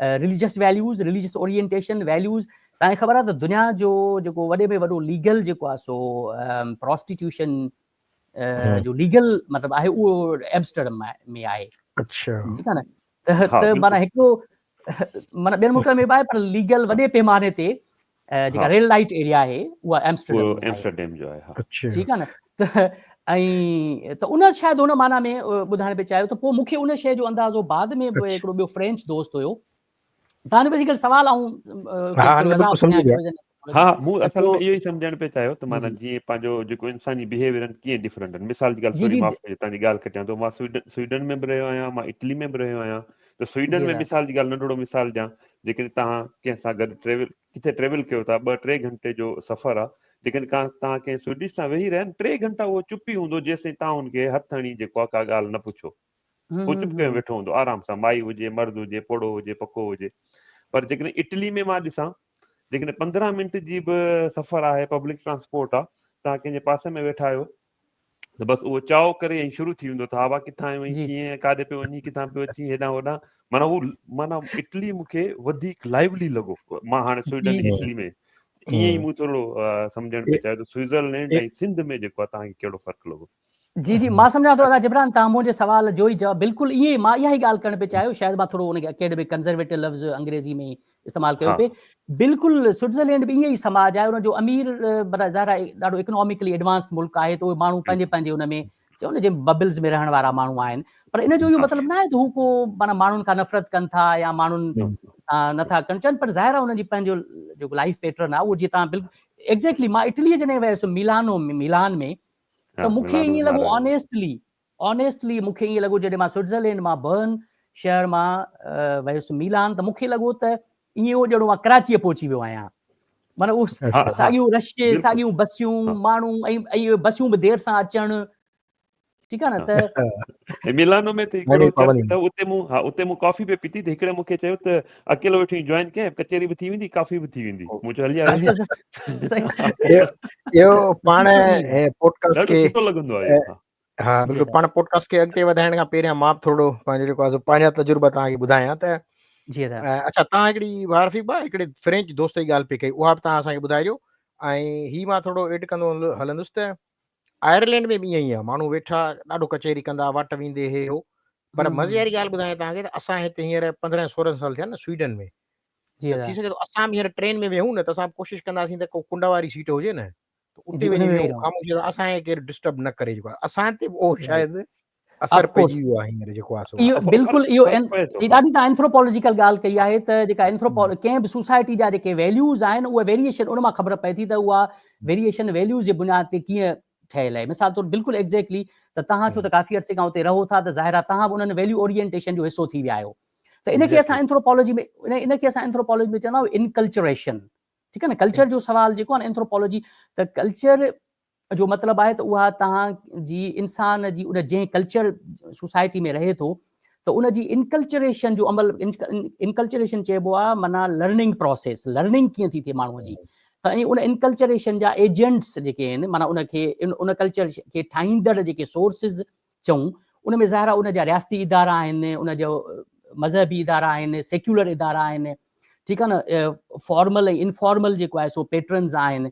religious values, religious orientation, values, توهان کي خبر آهي ته دنيا جو جيڪو وڏي ۾ وڏو ليگل جيڪو آهي سو پروسٽيٽيوشن جو ليگل مطلب آهي اهو ايمسٽرڊم ۾ آهي اڇا ٺيڪ آهي نه ته معنيٰ هڪڙو معنيٰ ٻين ملڪن ۾ به آهي پر ليگل وڏي پيماني تي جيڪا ريل لائيٽ ايريا آهي اها ايمسٽرڊيم جو آهي ٺيڪ آهي نه ته ۽ ته ان شايد ان معنيٰ ۾ ٻڌائڻ پئي چاهيو ته پوء مون کي ان شيء جو اندازو بعد ۾ به هڪڙو ٻيو فرينچ دوست هيو تنهن به هڪڙو سوال آئون ها مون اصل ۾ اهو ئي سمجهڻ پئي چاهيو ته معنيٰ جيئن پنهنجو جيڪو انساني بهيويئر آهن ڪيئن ڊفرنٽ آهن مثال جي ڳالهه سوري معاف ڪجي تنهنجي ڳالهه کٽيان ٿو مان سوئيڊن ۾ به رهيو آهيان مان اٽلي ۾ به رهيو آهيان ته سوئيڊن ۾ مثال جي ڳالهه ننڍڙو مثال ڏيان جيڪڏهن توهان ڪنهن سان گڏ ٽريول ڪٿي ٽريول ڪيو ٿا ٻه ٽي گهنٽي جو سفر آ جيڪڏهن ڪا توهان ڪنهن سوئيڊش سان ويهي رهيا ٽي گهنٽا اهو چپ ئي هوندو جيسين توهان هن کي هٿ هڻي جيڪو آ ڪا ڳالهه نه پڇو هو چپ ڪري ويٺو هوندو آرام سان مائي هجي مرد هجي پوڙهو هجي پڪو هجي پر جيڪڏهن اٽلي ۾ مان ڏسان جيڪڏهن پندرهن منٽ جي به سفر آهي پبلڪ ٽرانسپورٽ آ توهان ڪنهن جي پاسي ۾ ويٺا آهيو ته بس اهو چاء ڪري ۽ شروع ٿي ويندو ته هوا ڪٿان آيو ۽ ڪيئن ۽ ڪاڏي پيو وڃي ڪٿان پيو اچي هيڏانهن هوڏانهن معنيٰ هو معنيٰ اٽلي مون کي وڌيڪ لائيولي لڳو مان هاڻي سوئيڊن اٽلي ۾ ائين ئي مون ٿورو سمجهڻ پئي چاهيو ته سوئيزرلينڊ ۽ سنڌ ۾ جيڪو آهي تهانکي ڪهڙو فرق لڳو جي جي مان سمجهان ٿو ادا جبران تان منهنجي سوال جوئي جواب بلڪل ائين ئي مان اها ئي ڳالهه ڪرڻ پئي چاهيو شايد مان ٿورو ان اڪيڊمڪ ڪنزرويٽو لفظ انگريزي ۾ استعمال ڪيو پئي بلڪل سئٽزرلينڊ به ائين ئي سماج آهي ان جو امير برا ظاهر آهي ڏاڍو اڪناميڪلي ايڊوانس ملڪ آهي ته اهي ماڻهو پنهنجي پنهنجي ان ۾ چئو نه جن ببلز ۾ رهڻ وارا ماڻهو آهن پر ان جو اهو مطلب نه آهي ته هو ڪو مانا ماڻهن کان نفرت ڪن ٿا يا ماڻهن سان نٿا ڪن چن پر ظاهر آهي ان جي پنهنجو جو لائف پيٽرن آهي اهو جي تان بلڪل ايگزيڪٽلي مان اٽلي جڏهن ويس ميلانو ميلان ۾ ته مونکي ائين لڳو آنيسٽلي آنيسٽلي مون کي ائين لڳو جڏهن مان سوئٽزرلينڊ مان برن شهر مان ويس ميلان ته مون کي لڳو ته ائين هو ڄڻو مان ڪراچيء پهچي ويو آهيان. معنيٰ اهو ساڳيون رشي، ساڳيون بسيون، ماڻهو ۽ بسيون به دير سان اچڻ ٺيڪ آهي نه ته ميلانو ۾ ته ڪهڙو چرچ اٿو اتي مون ها اتي مون ڪافي به پيتي ته هڪڙي مون کي چيو ته اڪيلو ويٺو آهين جوائن ڪئين ڪچهري به ٿي ويندي ڪافي به ٿي ويندي مون چيو هلي آ اهو پاڻ پوڊڪاسٽ کي سٺو لڳندو آهي ها بلڪل پاڻ پوڊڪاسٽ کي اڳتي وڌائڻ کان پهريان مان به ٿورڙو پنهنجو جيڪو آهي پنهنجا تجربا توهان کي ٻڌايان ته جي ادا اچھا توهان هڪڙي وارفي با هڪڙي فرينچ دوست جي ڳالهه پي ڪئي اها به توهان اسان کي ٻڌائجو ۽ هي مان ٿورڙو ايڊ ڪندو هلندس ته آئرلينڊ ۾ به ائين ئي آهي ماڻهو ويٺا ڏاڍو ڪچهري ڪندا واٽ ويندي هي هو پر مزي واري ڳالهه ٻڌايان توهان کي ته اسان هتي هينئر پندرهن سورهن سال ٿيا نه سوئيڊن ۾ جي ادا ٿي سگهي ٿو اسان به هينئر ٽرين ۾ ويهون نه ته اسان ڪوشش ڪنداسين ته ڪو ڪنڊ واري سيٽ هجي نه ته اتي وڃي ويهي رهو خاموشي سان اسان کي ڪير ڊسٽرب نه ڪري جيڪو اسان تي اهو شايد اثر پئجي ويو آهي هينئر جيڪو آهي اهو بلڪل اهو هي ڏاڍي توهان اينٿروپالاجيڪل ڳالهه ڪئي آهي ته جيڪا اينٿروپال ڪنهن به سوسائٽي جا جيڪي ويليوز آهن اهي ويريشن ان مان خبر پئي ٿي ته اها ويريشن ويليوز جي بنياد تي ڪيئن ٺهيل آهي مثال طور بلڪل ايگزيڪٽلي ته توهان ڇو ته ڪافي عرصي کان اتي رهو ٿا ته ظاهر آهي توهان به انهن ويليو اورينٽيشن جو حصو ٿي ويا آهيو ته ان کي اسان اينٿروپالاجي ۾ ان کي اسان اينٿروپالاجي ۾ چوندا آهيون انڪلچريشن ٺيڪ آهي نه ڪلچر جو سوال جيڪو آهي اينٿروپالاجي ته ڪلچر جو مطلب آهي ته اها توهان جي انسان جي ان جنهن ڪلچر سوسائٽي ۾ رهي ٿو ته ان جي انڪلچريشن جو عمل انڪلچريشن چئبو آهي معنيٰ لرننگ پروسيس لرننگ ڪيئن ٿي ٿئي ماڻهوء جي ته ۽ ان انڪلچريشن جا ايجنٽس جيڪي آهن معنيٰ ان کي ان ڪلچر کي ٺاهيندڙ جيڪي سورسز چئون، ان ۾ ظاهر آهي ان جا رياستي ادارا آهن، ان جا مذهبي ادارا آهن، سيڪيولر ادارا آهن، ٺيڪ آهي نه، فارمل ۽ انفارمل جيڪو آهي سو پيٽرنز آهن،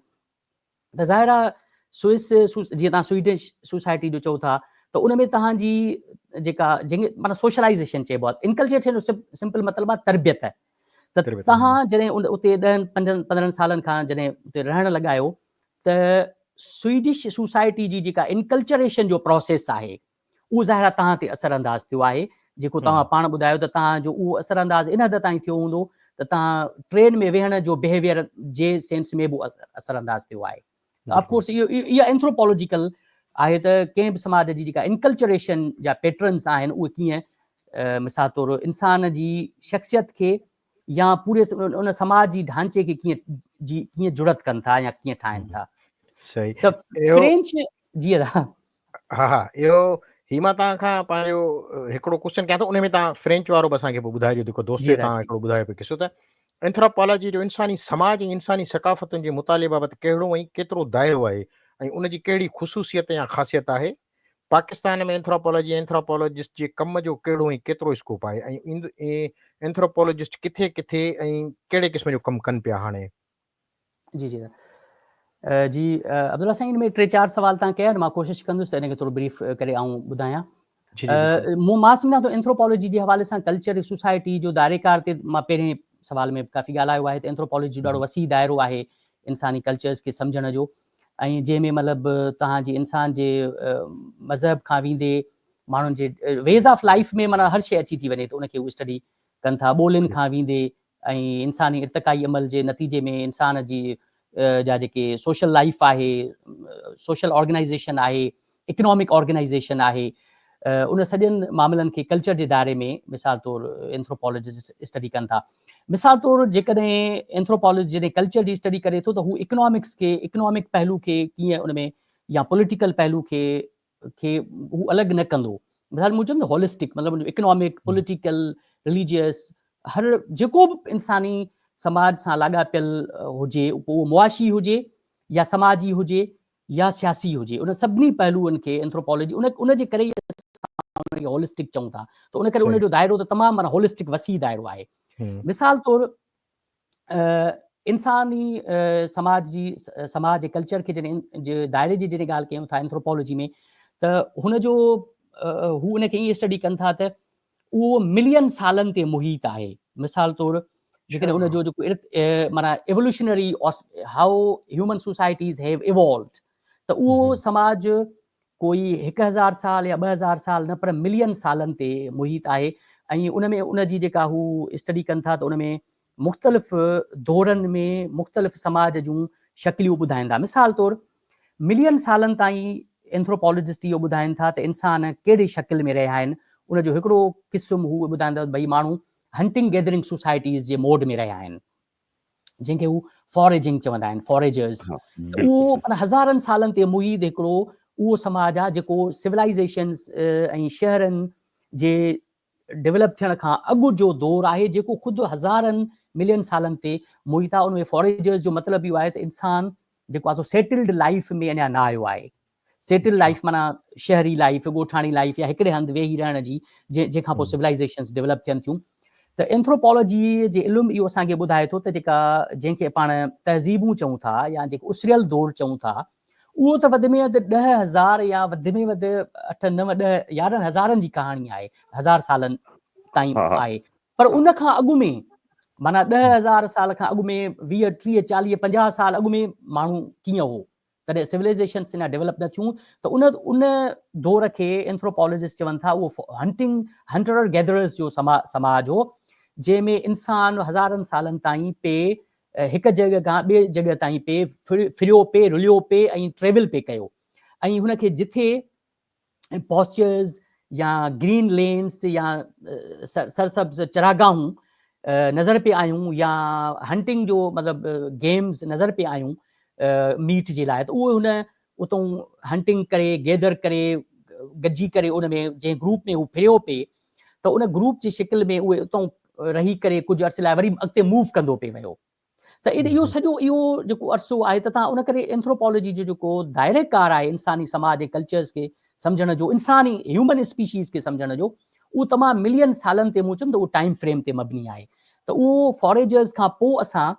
ته ظاهر آهي سوئس جيئن توهان سوئيڊش سوسائٽي جو چئو ٿا ته ان ۾ توهان جي جيڪا جنهن کي معنيٰ سوشلائيزيشن چئبو آهي، انڪلجيٽ جو سمپل مطلب آهي تربيت، ته توهان جڏهن اتي ڏهن پنجن پندرهن سالن کان جڏهن اتي رهڻ لڳا آهيو ته سوئيڊش سوسائٽي جي جيڪا انڪلچريشن جو پروسيس آهي اهو ظاهر آهي توهان تي اثر انداز ٿيو آهي جيڪو توهان پاڻ ٻڌايو ته توهان جو اهو اثر انداز ان حد تائين ٿيو هوندو ته توهان ٽرين ۾ ويهڻ جو بهيويئر جي سينس ۾ به اثر انداز ٿيو آهي آف ڪورس اهو اها اينٿروپولوجيڪل آهي ته ڪنهن به سماج جي جيڪا انڪلچريشن جا پيٽرنس آهن اهي ڪيئن مثال طور انسان جي شخصيت کي يا پوري ان سماج جي ڍانچي کي ڪيئن جي ڪيئن جڙت ڪن ٿا يا ڪيئن ٺاهن ٿا صحيح ته فرينچ جي ها ها اهو هي مان تان کان پنهنجو هڪڙو ڪوشچن ڪيا ٿو ان ۾ تان فرينچ وارو به اسان کي ٻڌايو جو ڪو دوست تان هڪڙو ٻڌايو پي قصو ته انٿراپالاجي جو انساني سماج ۽ انساني ثقافتن جي مطالعي بابت ڪهڙو ۽ ڪيترو دائرو آهي ۽ ان جي ڪهڙي خصوصيت يا خاصيت آهي پاڪستان ۾ اينٿراپالاجي اينٿراپالاجسٽ جي ڪم جو ڪهڙو ۽ ڪيترو اسڪوپ آهي ۽ اينٿراپالاجسٽ ڪٿي ڪٿي ۽ ڪهڙي قسم جو ڪم ڪن پيا هاڻي؟ جي جي جي عبدالله سائين ان ۾ ٽي چار سوال تان ڪيا مان ڪوشش ڪندس ته ان کي ٿورو بريف ڪري آئون ٻڌايان مون مان سمجھان ٿو اينٿروپالاجي جي حوالي سان ڪلچر سوسائٽي جو دائري ڪار تي مان پهرين سوال ۾ ڪافي ڳالهايو آهي ته اينٿروپالاجي جو ڏاڍو وسيع دائرو آهي انساني ڪلچرز کي سمجھڻ جو ۽ جنهن ۾ مطلب توهان جي انسان جي مذهب کان ويندي ماڻهن جي ويز آف لائيف ۾ معنيٰ هر شيء اچي ٿي وڃي ته ان کي هو اسٽڊي ڪن ٿا ٻولين کان ويندي ۽ انساني ارتقائي عمل جي نتيجي ۾ انسان جي جا جيڪي سوشل لائيف آهي سوشل آرگنائيزيشن آهي اڪنامڪ آرگنائيزيشن آهي، ان سڄن معاملن کي ڪلچر جي دائري ۾ مثال طور اينٿروپالاجسٽ اسٽڊي ڪن ٿا. مثال طور جيڪڏهن اينٿروپالاجسٽ جڏهن ڪلچر جي اسٽڊي ڪري ٿو ته هو اڪنامڪس کي اڪنامڪ پهلو کي ڪيئن ان ۾ يا پوليٽيڪل پهلو کي کي هو الڳ نه ڪندو. مثال مون چيم ته هولسٽڪ مطلب اڪنامڪ، پوليٽيڪل، رليجيس هر جيڪو به انساني سماج سان لاڳاپيل هجي پوء اهو معاشي هجي يا سماجي هجي يا سياسي هجي ان سڀني پهلوئن کي اينٿروپالاجي ان ان جي ڪري ئي اسان ان کي هولسٽڪ چئون ٿا ته ان ڪري ان جو دائرو ته تمام معنيٰ هولسٽڪ وسيع دائرو آهي مثال طور انساني سماج جي سماج جي ڪلچر کي جڏهن جي دائري جي جڏهن ڳالهه ڪيون ٿا اينٿروپالاجي ۾ ته هن جو هو ان کي ائين اسٽڊي ڪن ٿا ته اهو ملين سالن تي محيط آهي. مثال طور جيڪڏهن ان جو جيڪو معنيٰ evolutionary how human societies have evolved ته اهو سماج ڪوئي هڪ هزار سال يا ٻه هزار سال نه پر ملين سالن تي محيط آهي ۽ ان ۾ ان جي جيڪا هو اسٽڊي ڪن ٿا ته ان ۾ مختلف دورن ۾ مختلف سماج جون شڪليون ٻڌائين ٿا. مثال طور، ملين سالن تائين اينٿروپالاجسٽ اهو ٻڌائين ٿا ته انسان ڪهڙي شڪل ۾ رهيا آهن. ان جو هڪڙو قسم هو ٻڌائين ٿا ته ڀئي ماڻهو هنٽنگ گيدرنگ سوسائٽيز جي موڊ ۾ رهيا آهن، جنهن کي هو فاريجنگ چوندا آهن، Foragers. ته اهو معنيٰ هزارن سالن تي محيط هڪڙو اهو سماج آهي جيڪو سولائيزيشنز ۽ شهرن جي ڊولپ ٿيڻ کان اڳ جو دور آهي جيڪو خود هزارن ملين سالن تي محيط آهي ان ۾ فوريجرز جو مطلب اهو آهي ته انسان جيڪو آهي سو سيٽلڊ لائيف ۾ اڃا نه آيو آهي سيٽل لائيف معنيٰ شهري لائيف ڳوٺاڻي لائيف يا هڪڙي هنڌ ويهي رهڻ جي جنهن جنهن کان پوء سولائيزيشنز ڊولپ ٿين ٿيون ته اينٿروپالوجي جي علم اهو اسان کي ٻڌائي ٿو ته جيڪا جنهن کي پاڻ تهذيبون چئون ٿا يا جيڪو اسريل دور چئون ٿا اهو ته وڌ ۾ وڌ ڏهه هزار يا وڌ ۾ وڌ اٺ نو ڏهه يارهن هزارن جي ڪهاڻي آهي، هزار سالن تائين آهي، پر ان کان اڳ ۾ معنيٰ ڏهه هزار سال کان اڳ ۾ ويهه ٽيهه چاليهه پنجاهه سال اڳ ۾ ماڻهو ڪيئن هو، تڏهن سولائزيشنس اڃا ڊيولپ نه ٿيون ته ان ان دور کي اينٿروپالاجسٽ چون ٿا اهو هنٽنگ هنٽرر گيدررز جو سماج هو جنهن ۾ انسان هزارن سالن تائين پي هڪ جڳهه کان ٻي جڳهه تائين پي ڦريو، پي رليو، پي ۽ ٽريول پي ڪيو ۽ هن کي جٿي پاسچرز يا گرين لينز يا سرسبز چراگاهون نظر پي آيون يا هنٽنگ جو مطلب گيمز نظر پي آيون ميٽ جي لاء ته اهو هن اتون هنٽنگ ڪري، گيدر ڪري، گڏجي ڪري ان ۾ جنهن گروپ ۾ هو ڦريو پئي ته ان گروپ جي شڪل ۾ اهي اتون رهي ڪري ڪجهه عرصي لاء وري اڳتي موو ڪندو پئي ويو ته ان اهو سڄو اهو جيڪو عرصو آهي ته تان ان ڪري اينٿروپالاجي جو جيڪو دائره ڪار آهي انساني سماج ۽ ڪلچرز کي سمجهڻ جو انساني هيومن اسپيشيز کي سمجهڻ جو اهو تمام ملين سالن تي مون چيم ته اهو ٽائيم فريم تي مبني آهي ته اهو فاريجرز کان پوء اسان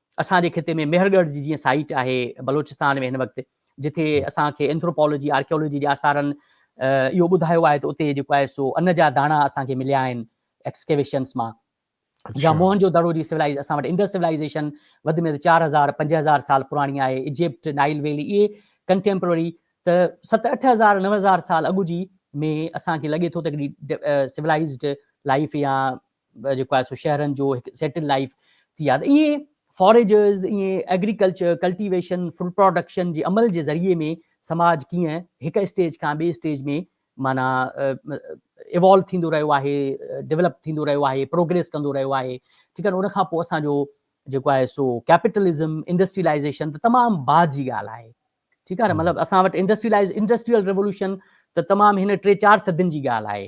اسان جي خطي ۾ مهر ڳڙهه جي جيئن سائيٽ آهي بلوچستان ۾ هن وقت جتي اسان کي اينٿروپالاجي آرڪيالاجي جي آثارن اهو ٻڌايو آهي ته اتي جيڪو آهي سو ان جا داڻا اسان کي مليا آهن ايڪسڪيويشنس مان يا موهن جو دڙو جي سولائز اسان وٽ انڊس سولائزيشن وڌ ۾ وڌ چار هزار پنج هزار سال پراڻي آهي اجپٽ نائل ويلي اهي ڪنٽيمپرري ته ست اٺ هزار نو هزار سال اڳ جي ۾ اسان کي لڳي ٿو ته هڪڙي سولائزڊ لائف يا جيڪو آهي سو شهرن جو هڪ سيٽل لائيف ٿي آ ته ائين فاريجرز ائين ايگريڪلچر ڪلٽيويشن فوڊ پراڊڪشن جي عمل جي ذريعي ۾ سماج ڪيئن هڪ اسٽيج کان ٻي اسٽيج ۾ معنيٰ ايوالو ٿيندو رهيو آهي ڊيولپ ٿيندو رهيو آهي پروگريس ڪندو رهيو آهي ٺيڪ آهي ان کان پوء اسان جو جيڪو آهي سو ڪيپيٽلزم انڊسٽريلائزيشن ته تمام بعد جي ڳالهه آهي ٺيڪ آهي نه مطلب اسان وٽ انڊسٽريلائز انڊسٽريل ريولوشن ته تمام هن ٽي چار صدين جي ڳالهه آهي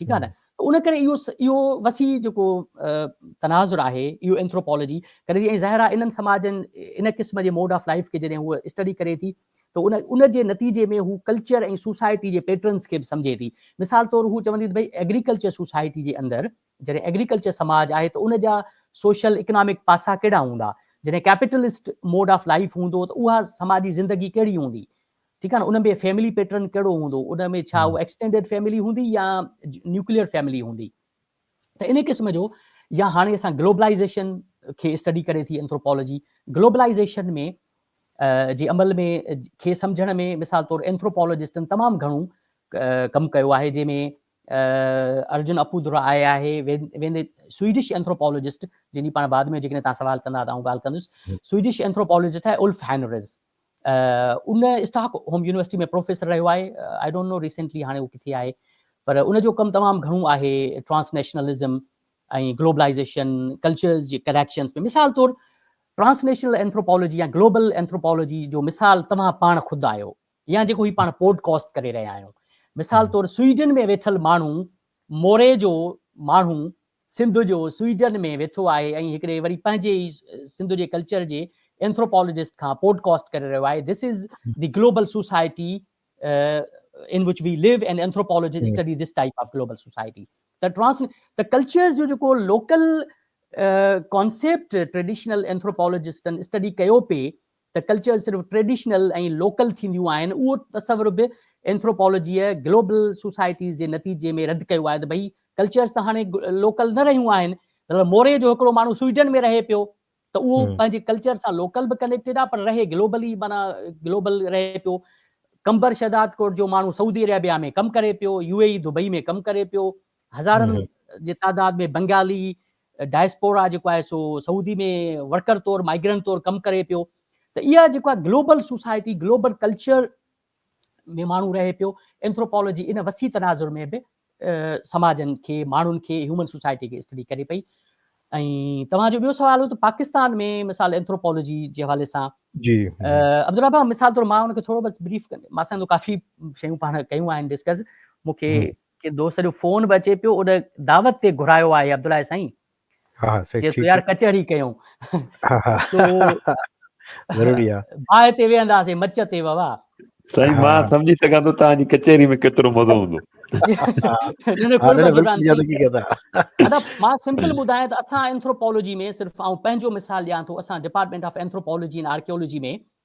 ٺيڪ آهي نه ته ان ڪري اهو اهو وسيع جيڪو تناظر آهي اهو اينٿروپالاجي ڪري ٿي ۽ ظاهر آهي انهن سماجن ان قسم جي موڊ آف لائف کي جڏهن هو اسٽڊي ڪري ٿي ته ان ان جي نتيجي ۾ هو ڪلچر ۽ سوسائٽي جي پيٽرنس کي به سمجهي ٿي مثال طور هو چوندي ته ڀئي ايگريڪلچر سوسائٽي جي اندر جڏهن ايگريڪلچر سماج آهي ته ان جا سوشل اڪنامڪ پاسا ڪهڙا هوندا جڏهن ڪيپيٽلسٽ موڊ آف لائف هوندو ته اها سماجي زندگي ڪهڙي هوندي ٺيڪ آهي نه ان ۾ فيملي پيٽرن ڪهڙو هوندو ان ۾ ڇا هو ايڪسٽينڊيڊ فيملي هوندي يا نيوڪليئر فيملي هوندي ته ان قسم جو يا هاڻي اسان گلوبلائيزيشن کي اسٽڊي ڪري ٿي اينٿروپالوجي گلوبلائيزيشن ۾ جي عمل ۾ کي سمجھڻ ۾ مثال طور اينٿروپالوجسٽن تمام گھڻو ڪم ڪيو آهي جنهن ۾ ارجن اپودرا آئي آهي ويندي سوئيڊش اينٿروپالوجسٽ جن جي پاڻ بعد ۾ جيڪڏهن تان سوال ڪندا ته آئون ڳالهه ڪندس سوئيڊش اينٿروپالوجسٽ آهي Ulf Hannerz in Stockholm university ۾ پروفيسر رهيو آهي آئي ڊونٽ نو ريسينٽلي هاڻي هو ڪٿي آهي پر ان جو ڪم تمام گهڻو آهي ٽرانس نيشنلزم ۽ گلوبلائيزيشن ڪلچرز جي ڪليڪشنز ۾ مثال طور ٽرانس نيشنل اينٿروپالوجي يا گلوبل اينٿروپالوجي جو مثال توهان پاڻ خود آهيو يا جيڪو هي پاڻ پوڊڪاسٽ ڪري رهيا آهيون مثال طور سويڊن ۾ ويٺل ماڻهو موري جو ماڻهو سنڌ جو سوئيڊن ۾ ويٺو آهي ۽ هڪڙي وري پنهنجي ئي سنڌ جي ڪلچر جي اينٿروپالاجسٽ کان پوڊ ڪاسٽ ڪري رهيو آهي This is the global society in which we live and anthropologists study this type of global society ته ٽرانس ته ڪلچرز جو جيڪو لوڪل ڪانسيپٽ ٽريڊيشنل اينٿروپالاجسٽن اسٽڊي ڪيو پئي ته ڪلچر صرف ٽريڊيشنل ۽ لوڪل ٿينديون آهن، اهو تصور به اينٿروپالاجيء گلوبل سوسائٽيز جي نتيجي ۾ رد ڪيو آهي ته ڀئي ڪلچرز ته هاڻي لوڪل نه رهيون آهن. مثلا موري جو هڪڙو ماڻهو سوئيڊن ۾ رهي پيو ته اهو پنهنجي ڪلچر سان لوڪل به ڪنيڪٽيڊ آهي پر رهي گلوبلي معنيٰ گلوبل رهي پيو. قمبر شهدادڪوٽ جو ماڻهو سعودي عربيه ۾ ڪم ڪري پيو، يو اي اي دبئي ۾ ڪم ڪري پيو، هزارن جي تعداد ۾ بنگالي، ڊائسپورا جيڪو آهي سو سعودي ۾ ورڪر طور مائگرنٽ طور ڪم ڪري پيو ته اها جيڪو آهي گلوبل سوسائٽي گلوبل ڪلچر ۾ ماڻهو رهي پيو اينٿروپالاجي ان وسيع تناظر ۾ به سماجن کي ماڻهن کي هيومن سوسائٽي کي اسٽڊي ڪري پئي ۽ توهان جو ٻيو سوال هو ته پاڪستان ۾ مثال اينٿروپالاجي جي حوالي سان جي عبدالله بابا مثال طور مان ان کي ٿورو بس بريف ڪندي مان سان ڪافي شيون پاڻ ڪيون آهن ڊسڪس مونکي ڪنهن دوست جو فون به اچي پيو ان دعوت تي گهرايو آهي عبدالله سائين ها سائين چي ٿو يار ڪچهري ڪيون سو ضروري آ باهه تي ويهنداسين مچ تي ووا سائين مان سمجهي سگهان ٿو توهان جي ڪچهري ۾ ڪيترو مزو هوندو مان سمپل ٻڌايان ته اسان اينٿروپالوجي ۾ صرف آئون پنهنجو مثال ڏيان ٿو اسان ڊپارٽمينٽ آف اينٿروپالوجي ۽ آرڪيولوجي ۾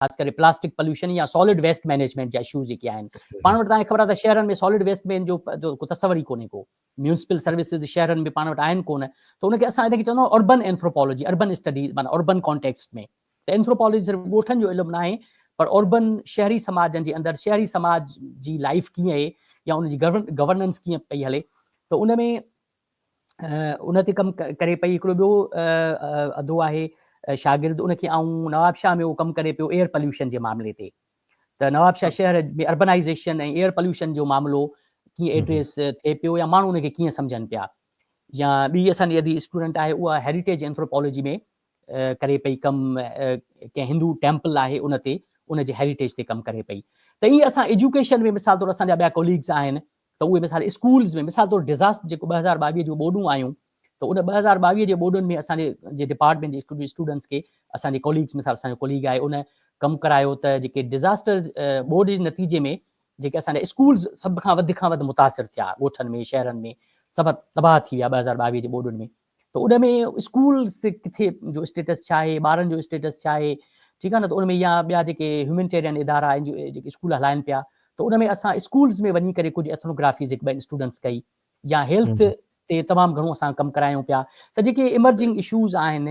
خاص ڪري پلاسٽڪ پليوشن يا سالڊ ويسٽ مينيجمينٽ جا اشوز جيڪي آهن پاڻ وٽ تاکي خبر آهي ته شهرن ۾ سالڊ ويسٽ مين جو ڪو تصور ئي ڪونهي ڪو ميونسپل سروسز شهرن ۾ پاڻ وٽ آهن ڪونه ته ان کي اسان ان کي چوندو اربن اينٿروپولوجي اربن اسٽڊيز معنی اربن ڪانٽيڪسٽ ۾ ته اينٿروپولوجي صرف ڳوٺن جو علم ناهي پر اربن شهري سماجن جي اندر شهري سماج جي لائف ڪيئن آهي يا ان جي گورننس ڪيئن پئي هلي ته ان ۾ ان تي ڪم ڪري پئي هڪڙو ٻيو ادو آهي شاگرد ان کي آئون نوابشاهه ۾ اهو ڪم ڪري پيو ايئر پليوشن جي معاملي تي ته نوابشاهه شهر ۾ اربنائيزيشن ۽ ايئر پليوشن جو معاملو ڪيئن ايڊريس ٿئي پيو يا ماڻهو ان کي ڪيئن سمجهن پيا يا ٻي اسانجي ادي اسٽوڊنٽ آهي اها هيريٽيج اينٿروپالوجي ۾ ڪري پئي ڪم ڪنهن هندو ٽيمپل آهي ان تي ان جي هيريٽيج تي ڪم ڪري پئي ته ائين اسان ايجوڪيشن ۾ مثال طور اسانجا ٻيا ڪوليگز آهن ته اهي مثال اسڪولز ۾ مثال طور ڊزاسٽر جيڪو ٻه هزار ٻاويهه جون ٻوڏون آيون ته ان ٻه هزار ٻاويهه جي ٻوڏن ۾ اسان جي ڊپارٽمينٽ جي اسڪول جي اسٽوڊنٽس کي اسان جي ڪوليگز مثال اسان جو ڪوليگ آهي ان ڪم ڪرايو ته جيڪي ڊزاسٽر ٻوڏ جي نتيجي ۾ جيڪي اسان جا اسڪولز سڀ کان وڌ کان وڌ متاثر ٿيا ڳوٺن ۾ شهرن ۾ سڀ تباهه ٿي ويا ٻه هزار ٻاويهه جي ٻوڏن ۾ ته ان ۾ اسڪول ڪٿي جو اسٽيٽس ڇا آهي ٻارن جو اسٽيٽس ڇا آهي ٺيڪ آهي نه ته ان ۾ يا ٻيا جيڪي هيومينٽيرين ادارا آهن جيڪي اسڪول هلائن پيا ته ان ۾ اسان اسڪولز ۾ وڃي ڪري ڪجهه ايٿنوگرافيز هڪ ٻن اسٽوڊنٽس ڪئي يا هيلٿ تي تمام گهڻو اسان ڪم ڪرايون پيا ته جيڪي ايمرجنگ اشوز آهن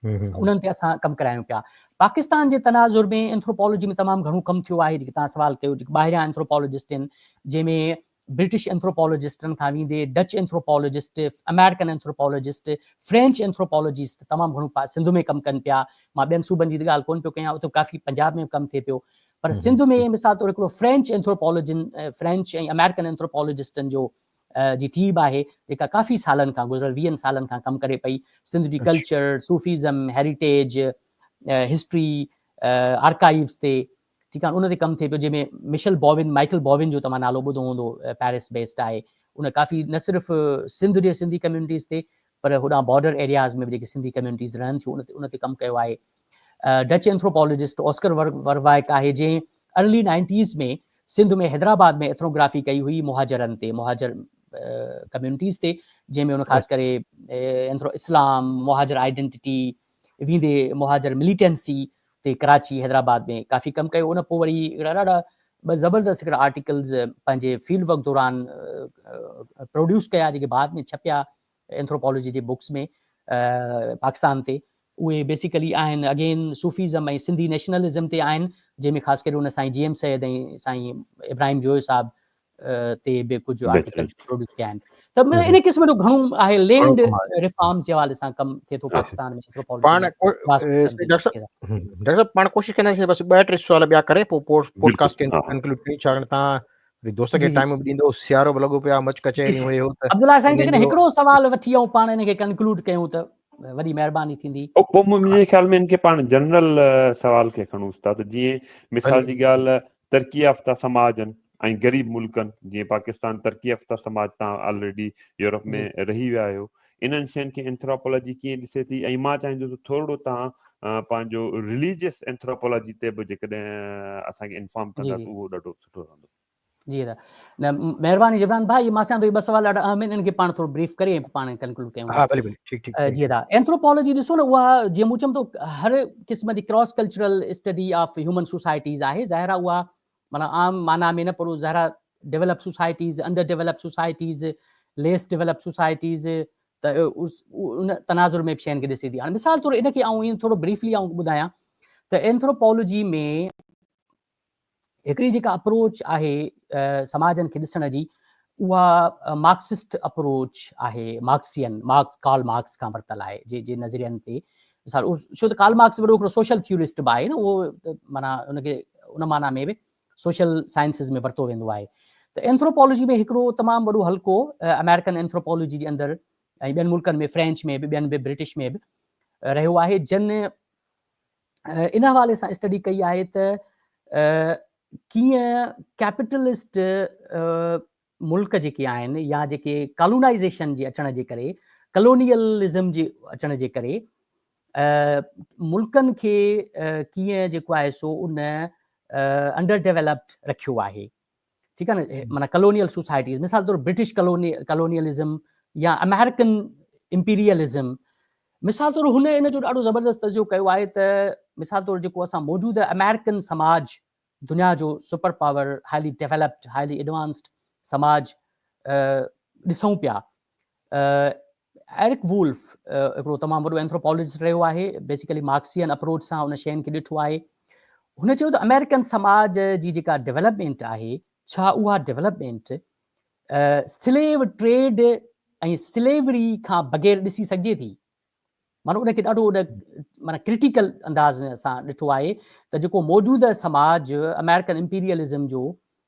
انهن تي اسان ڪم ڪرايون پيا پاڪستان جي تناظر ۾ اينٿروپالاجي ۾ تمام گهڻو ڪم ٿيو آهي جيڪي توهان سوال ڪيو جيڪي ٻاهريان اينٿروپالاجسٽ آهن جنهن ۾ برٽش اينٿروپالاجسٽن کان ويندي Dutch anthropologist American anthropologist French anthropologist تمام گهڻو سنڌ ۾ ڪم ڪن پيا مان ٻين صوبن جي ڳالهه ڪون پيو ڪيان اتي ڪافي پنجاب ۾ ڪم ٿئي پيو پر سنڌ ۾ مثال طور هڪڙو فرينچ اينٿروپالاجن فرينچ ۽ امريڪن اينٿروپالاجسٽن جو جي ٽيم آهي جيڪا ڪافي سالن کان گذريل ويهن سالن کان ڪم ڪري پئي سنڌ جي culture, Sufism, heritage, history, archives تي ٺيڪ آهي ان تي ڪم ٿئي پيو جنهن ۾ مشل بوون مائيڪل بوون جو توهان نالو ٻڌو هوندو پيرس بيسڊ آهي ان ڪافي نه صرف سنڌ جي سنڌي ڪميونٽيز تي پر هوڏانهن بارڊر ايرياز ۾ به جيڪي سنڌي ڪميونٽيز رهن ٿيون ان تي ڪم ڪيو آهي ڊچ اينٿروپالاجسٽ اوسڪر وروايڪ آهي جنهن early nineties ۾ Sindh ۾ Hyderabad ۾ ethnography ڪئي هئي مهاجرن تي مهاجر ڪميونٽيز تي جنهن ۾ ان خاص ڪري اينٿرو اسلام مهاجر آئيڊنٽي ويندي مهاجر مليٽنسي تي ڪراچي حيدرآباد ۾ ڪافي ڪم ڪيو ان پوء وري اهڙا ڏاڍا ٻه زبردست هڪڙا آرٽيڪلز پنهنجي فيلڊ ورڪ دوران پروڊيوس ڪيا جيڪي بعد ۾ ڇپيا اينٿروپالاجي جي بڪس ۾ پاڪستان تي اهي بيسيڪلي آهن اگين صوفيزم ۽ سنڌي نيشنلزم تي آهن جنهن ۾ خاص ڪري ان سائين جي ايم سيد ۽ سائين ابراهيم جويو صاحب تي به ڪجهه آرٽيڪلز پروڊيوس ڪيا آهن ته ان قسم جو گهڻو آهي لينڊ ريفارمز جي حوالي سان ڪم ٿئي ٿو پاڪستان ۾ ڊاڪٽر پاڻ ڪوشش ڪنداسين بس ٻه ٽي سوال ٻيا ڪري پوء پوڊڪاسٽ کي انڪلوڊ ڪري ڇاڪاڻ تان وري دوست جي کي جي ٽائيم به ڏيندو هوس سيارو به لڳو پيو آ مچ جي ڪچهريون سائين اهي هو ته عبدالله سائين انهن جيڪڏهن جو هڪڙو سوال وٺي ائون پاڻ ان کي ڪنڪلوڊ ڪيون ته وڏي مهرباني ٿيندي. پوء منهنجي خيال ۾ ان کي پاڻ جنرل سوال کي کڻون استاد جيئن مثال جي ڳالهه ترقي يافته سماجن ۽ غريب ملڪن جيئن پاڪستان ترقي يافته سماج تان آلريڊي يورپ جي ۾ رهي ويا آهيو انهن شين کي انٿراپولاجي ڪيئن ڏسي ٿي ۽ مان چاهيندو ته ٿورڙو تان پنهنجو رليجيس انٿراپولاجي تي به جيڪڏهن اسان کي انفارم جي ڪندا جي ته اهو ڏاڍو سٺو رهندو. جي ادا نه مهرباني جبران ڀاء مان سان ٿو ٻه سوال ڏاڍا اهم آهن ان کي پاڻ ٿورو بريف ڪري ۽ پاڻ ڪنڪلوڊ ڪيون ها بلڪل ٺيڪ ٺيڪ جي ادا اينٿروپولوجي ڏسو نه اها جي مون چم ٿو هر قسم جي cross cultural study of human societies آهي ظاهر آهي اها مانا عام معنی ۾ نه پر ظاهر develop societies under develop societies less develop societies ته ان تناظر ۾ به شين کي ڏسي ٿي هاڻي مثال طور ان کي آئون ٿورو بريفلي آئون ٻڌايان ته اينٿروپولوجي ۾ هڪڙي جيڪا اپروچ آهي سماجن کي ڏسڻ جي اها مارڪسسٽ اپروچ آهي مارڪسين مارڪس ڪارل مارڪس کان ورتل آهي جي جي نظرين تي مثال ڇو ته ڪارل مارڪس وڏو هڪڙو سوشل ٿيورسٽ به آهي نه اهو معنيٰ ان کي ان معنيٰ ۾ به سوشل سائنسز ۾ ورتو ويندو آهي ته اينٿروپالوجي ۾ هڪڙو تمام وڏو حلقو آمريڪن اينٿروپالوجي جي اندر ۽ ٻين ملڪن ۾ فرينچ ۾ به ٻين به برٽش ۾ به رهيو آهي جن ان حوالي سان اسٽڊي ڪئي آهي ته ڪيئن ڪيپيٽلسٽ ملڪ جيڪي آهن يا جيڪي ڪالونائيزيشن جي اچڻ جي ڪري ڪلونيلزم جي اچڻ جي ڪري ملڪن کي ڪيئن جيڪو آهي سو ان انڊر ڊيولپڊ رکيو آهي ٺيڪ آهي نه معنيٰ ڪلونيل سوسائٽيز مثال طور برٽش ڪلوني ڪلونيلزم يا امريڪن امپيريلزم مثال طور هن ان جو ڏاڍو زبردست تجزيو ڪيو آهي ته مثال طور جيڪو اسان موجوده امريڪن سماج دنيا جو super power highly developed highly advanced سماج ڏسون پيا ايرڪ وولف هڪڙو تمام وڏو اينٿروپالاجسٽ رهيو آهي، بيسيڪلي مارڪسيئن اپروچ سان ان شين کي ڏٺو آهي. هن چيو ته آمريڪن سماج جي جيڪا ڊولپمينٽ آهي، ڇا اها ڊولپمينٽ سليو ٽريڊ ۽ سليوري کان بغير ڏسي سگهجي ٿي؟ معنيٰ ان کي ڏاڍو ان معنيٰ ڪرٽيڪل انداز ۾ اسان ڏٺو آهي ته جيڪو موجوده سماج امريڪن امپيريلزم جو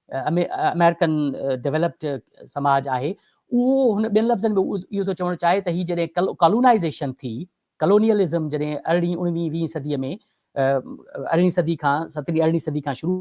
امريڪن ڊيولپڊ سماج آهي اهو هن ٻين لفظن ۾ اهو ٿو چوڻ چاهي ته هي جڏهن ڪالونائزيشن ٿي ڪالونيلزم جڏهن ارڙهين اڻويهين ويهين صدي ۾ ارڙهين صدي کان سترهين ارڙهين صدي کان شروع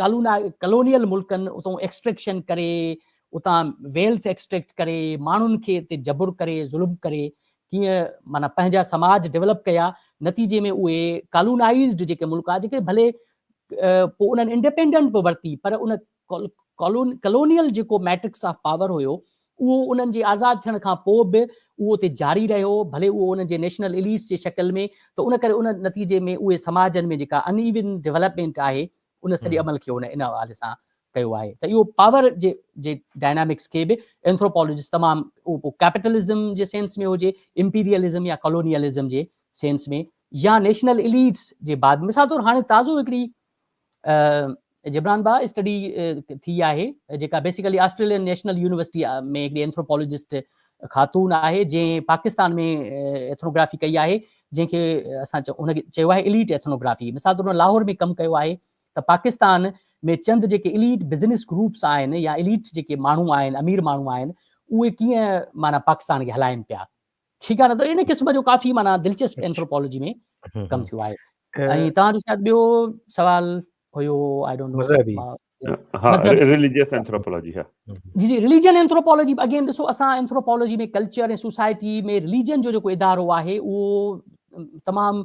ڪالونيل ملڪن اتان ايڪسٽريڪشن ڪري، اتان ويلٿ ايڪسٽريڪٽ ڪري، ماڻهن کي اتي جبر ڪري، ظلم ڪري، ڪيئن معنيٰ پنهنجا سماج ڊولپ ڪيا، نتيجي ۾ اهي ڪالونائيزڊ جيڪي ملڪ ها، جيڪي ڀلي پوء انهن انڊيپينڊنٽ به ورتي پر ان ڪالونيل جيڪو ميٽرڪس آف پاور هيو، اهو انهن جي آزاد ٿيڻ کان پوء به اهو اتي جاري رهيو، ڀلي اهو انهن جي نيشنل اليٽس جي شڪل ۾ ته ان ڪري ان نتيجي ۾ اهي سماجن ۾ جيڪا ان ايون ڊولپمينٽ آهي، ان سڄي عمل کي هن ان حوالي سان ڪيو آهي ته اهو پاور جي جي ڊائنامڪس کي به اينٿروپالاجسٽ تمام اهو پوء ڪيپيٽلزم جي سينس ۾ هجي، امپيريلزم يا ڪالونيلزم جي سينس ۾ يا نيشنل اليٽس جي بعد مثال طور هاڻي تازو هڪڙي جبران باهه اسٽڊي ٿي آهي جيڪا بيسيڪلي آسٽريلين نيشنل يونيورسٽي ۾ هڪڙي اينٿروپالوجسٽ خاتون آهي جنهن پاڪستان ۾ ايٿنوگرافي ڪئي آهي جنهن کي اسان ان کي چيو آهي اليٽ ايٿنوگرافي مثال طور لاهور ۾ ڪم ڪيو آهي ته پاڪستان ۾ چند جيڪي اليٽ بزنس گروپس آهن يا اليٽ جيڪي ماڻهو آهن امير ماڻهو آهن اهي ڪيئن معنيٰ پاڪستان کي هلائن پيا ٺيڪ آهي نه ته ان قسم جو ڪافي معنيٰ دلچسپ اينٿروپالاجي ۾ ڪم ٿيو آهي ۽ توهان جو شايد ٻيو سوال هيو آء ڊونٽ نو مذهبي ها ريليجيس اينٿروپالاجي ها جي جي ريليجن اينٿروپالاجي به اگين ڏسو اسان اينٿروپالاجي ۾ ڪلچر ۽ سوسائٽي ۾ ريليجن جو جيڪو ادارو آهي اهو تمام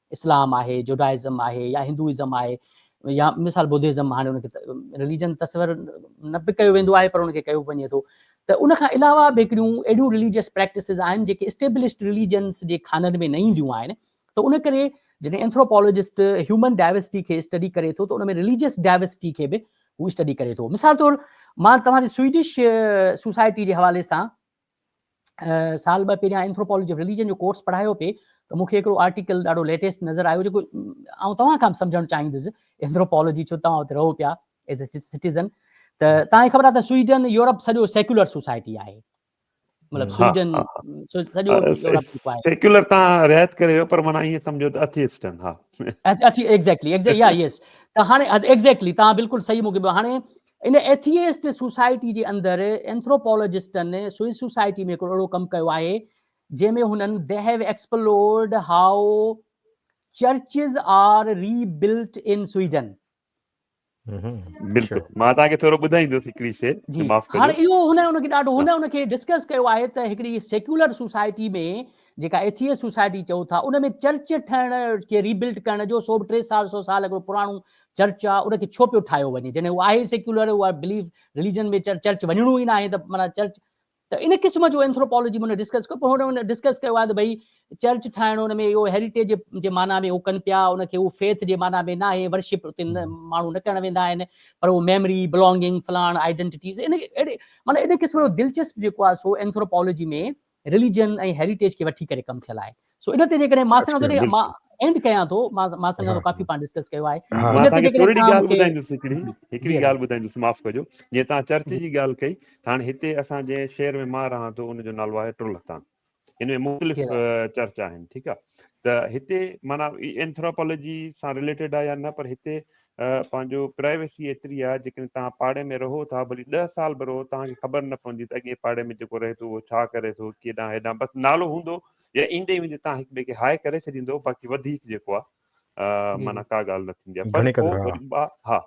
اسلام آهي، جوڊائزم آهي يا هندوئزم آهي يا مثال بودهزم هاڻي ان کي رليجن تصور نه به ڪيو ويندو آهي پر ان کي ڪيو وڃي ٿو ته ان کان علاوه به هڪڙيون اهڙيون رليجيس پريڪٽسز آهن جيڪي اسٽيبلشڊ رليجنس جي خانن ۾ نه اينديون آهن ته ان ڪري جڏهن اينٿروپالاجسٽ هيومن ڊائيورسٽي کي اسٽڊي ڪري ٿو ته ان ۾ رليجيس ڊائيورسٽي کي به هو اسٽڊي ڪري ٿو مثال طور مان توهان جي سوئيڊش سوسائٽي جي حوالي سان سال ٻه پهريان اينٿروپالاجي آف رليجن جو ڪورس پڙهايو پئي ته مون کي هڪڙو آرٽيڪل ڏاڍو ليٽيسٽ نظر آيو جيڪو آئون توهان کان به سمجهڻ چاهيندس اينٿروپالاجي ڇو توهان اتي رهو پيا ايز اي سٽيزن ته توهان کي خبر آهي ته سوئيڊن يورپ سڄو سيڪولر سوسائٽي آهي مطلب سوئيڊن سڄو سيڪولر تان رعايت ڪري ويو پر معنی ايئن سمجهو ته اٿيسٽن ها اٿي ايگزيڪٽلي ايگزيڪٽلي يا يس ته هاڻي ايگزيڪٽلي تان بلڪل صحيح مونکي هاڻي ان ايٿيئسٽ سوسائٽي جي اندر اينٿروپالاجسٽن سوئس سوسائٽي ۾ هڪڙو اهڙو ڪم ڪيو آهي جنهن ۾ هنن the have explored how churches are rebuilt in Sweden. بلڪل مان توهان کي ٿورو ٻڌائيندس هڪڙي شي جي معاف ڪجو هاڻ اهو هن ان کي ڏاڍو هن ان کي ڊسڪس ڪيو آهي ته هڪڙي سيڪولر سوسائٽي ۾ جيڪا ايٿيئس سوسائٽي چئو ٿا ان ۾ چرچ ٺهڻ کي ري بلٽ ڪرڻ جو سو به ٽي سال سو سال هڪڙو پراڻو چرچ آ ان کي ڇو پيو ٺاهيو وڃي جڏهن هو آهي سيڪيولر هو بليف رليجن ۾ چرچ وڃڻو ئي ناهي ته معنيٰ چرچ ته ان قسم جو اينٿروپالاجي ۾ ڊسڪس ڪيو پر هن ڊسڪس ڪيو آهي ته ڀئي چرچ ٺاهڻ ان ۾ اهو هيريٽيج جي معنيٰ ۾ هو ڪن پيا ان کي هو فيٿ جي معنيٰ ۾ ناهي ورشپ اتي ماڻهو نه ڪرڻ ويندا آهن پر هو ميموري بلانگنگ فلاڻ آئيڊنٽيٽيز ان اهڙي معنيٰ ان قسم جو دلچسپ جيڪو آهي سو اينٿروپالاجي ۾ رليجن ۽ هيريٽيج کي وٺي ڪري ڪم ٿيل آهي سو ان تي جيڪڏهن مان سان جڏهن مان اينڊ ڪيان ٿو مان مان سان ڪافي پاڻ ڊسڪس ڪيو آهي ان تي جيڪڏهن مان ٻڌائيندس هڪڙي هڪڙي ڳالهه ٻڌائيندس معاف ڪجو جي تان چرچ جي ڳالهه ڪئي هاڻ هتي اسان جي شهر ۾ مان رهان ٿو ان جو نالو آهي ٽرلهتان ان ۾ مختلف چرچ آهن ٺيڪ آهي ته هتي مانا اينٿراپولوجي سان ريليٽيڊ آهي يا نه پر هتي اها پنهنجو پرائيويسي ايتري آهي جيڪڏهن توهان پاڙي ۾ رهو ٿا ڀلي ڏهه سال به رهو توهان کي خبر نه پوندي ته اڳئين پاڙي ۾ جيڪو رهي ٿو اهو ڇا ڪري ٿو ڪيڏانهن هيڏانهن بس نالو هوندو يا ايندي ويندي توهان هڪ ٻئي کي هاء ڪري ڇڏيندو باقي وڌيڪ جيڪو آهي معنيٰ ڪا ڳالهه نه ٿيندي آهي پر پوء وري ها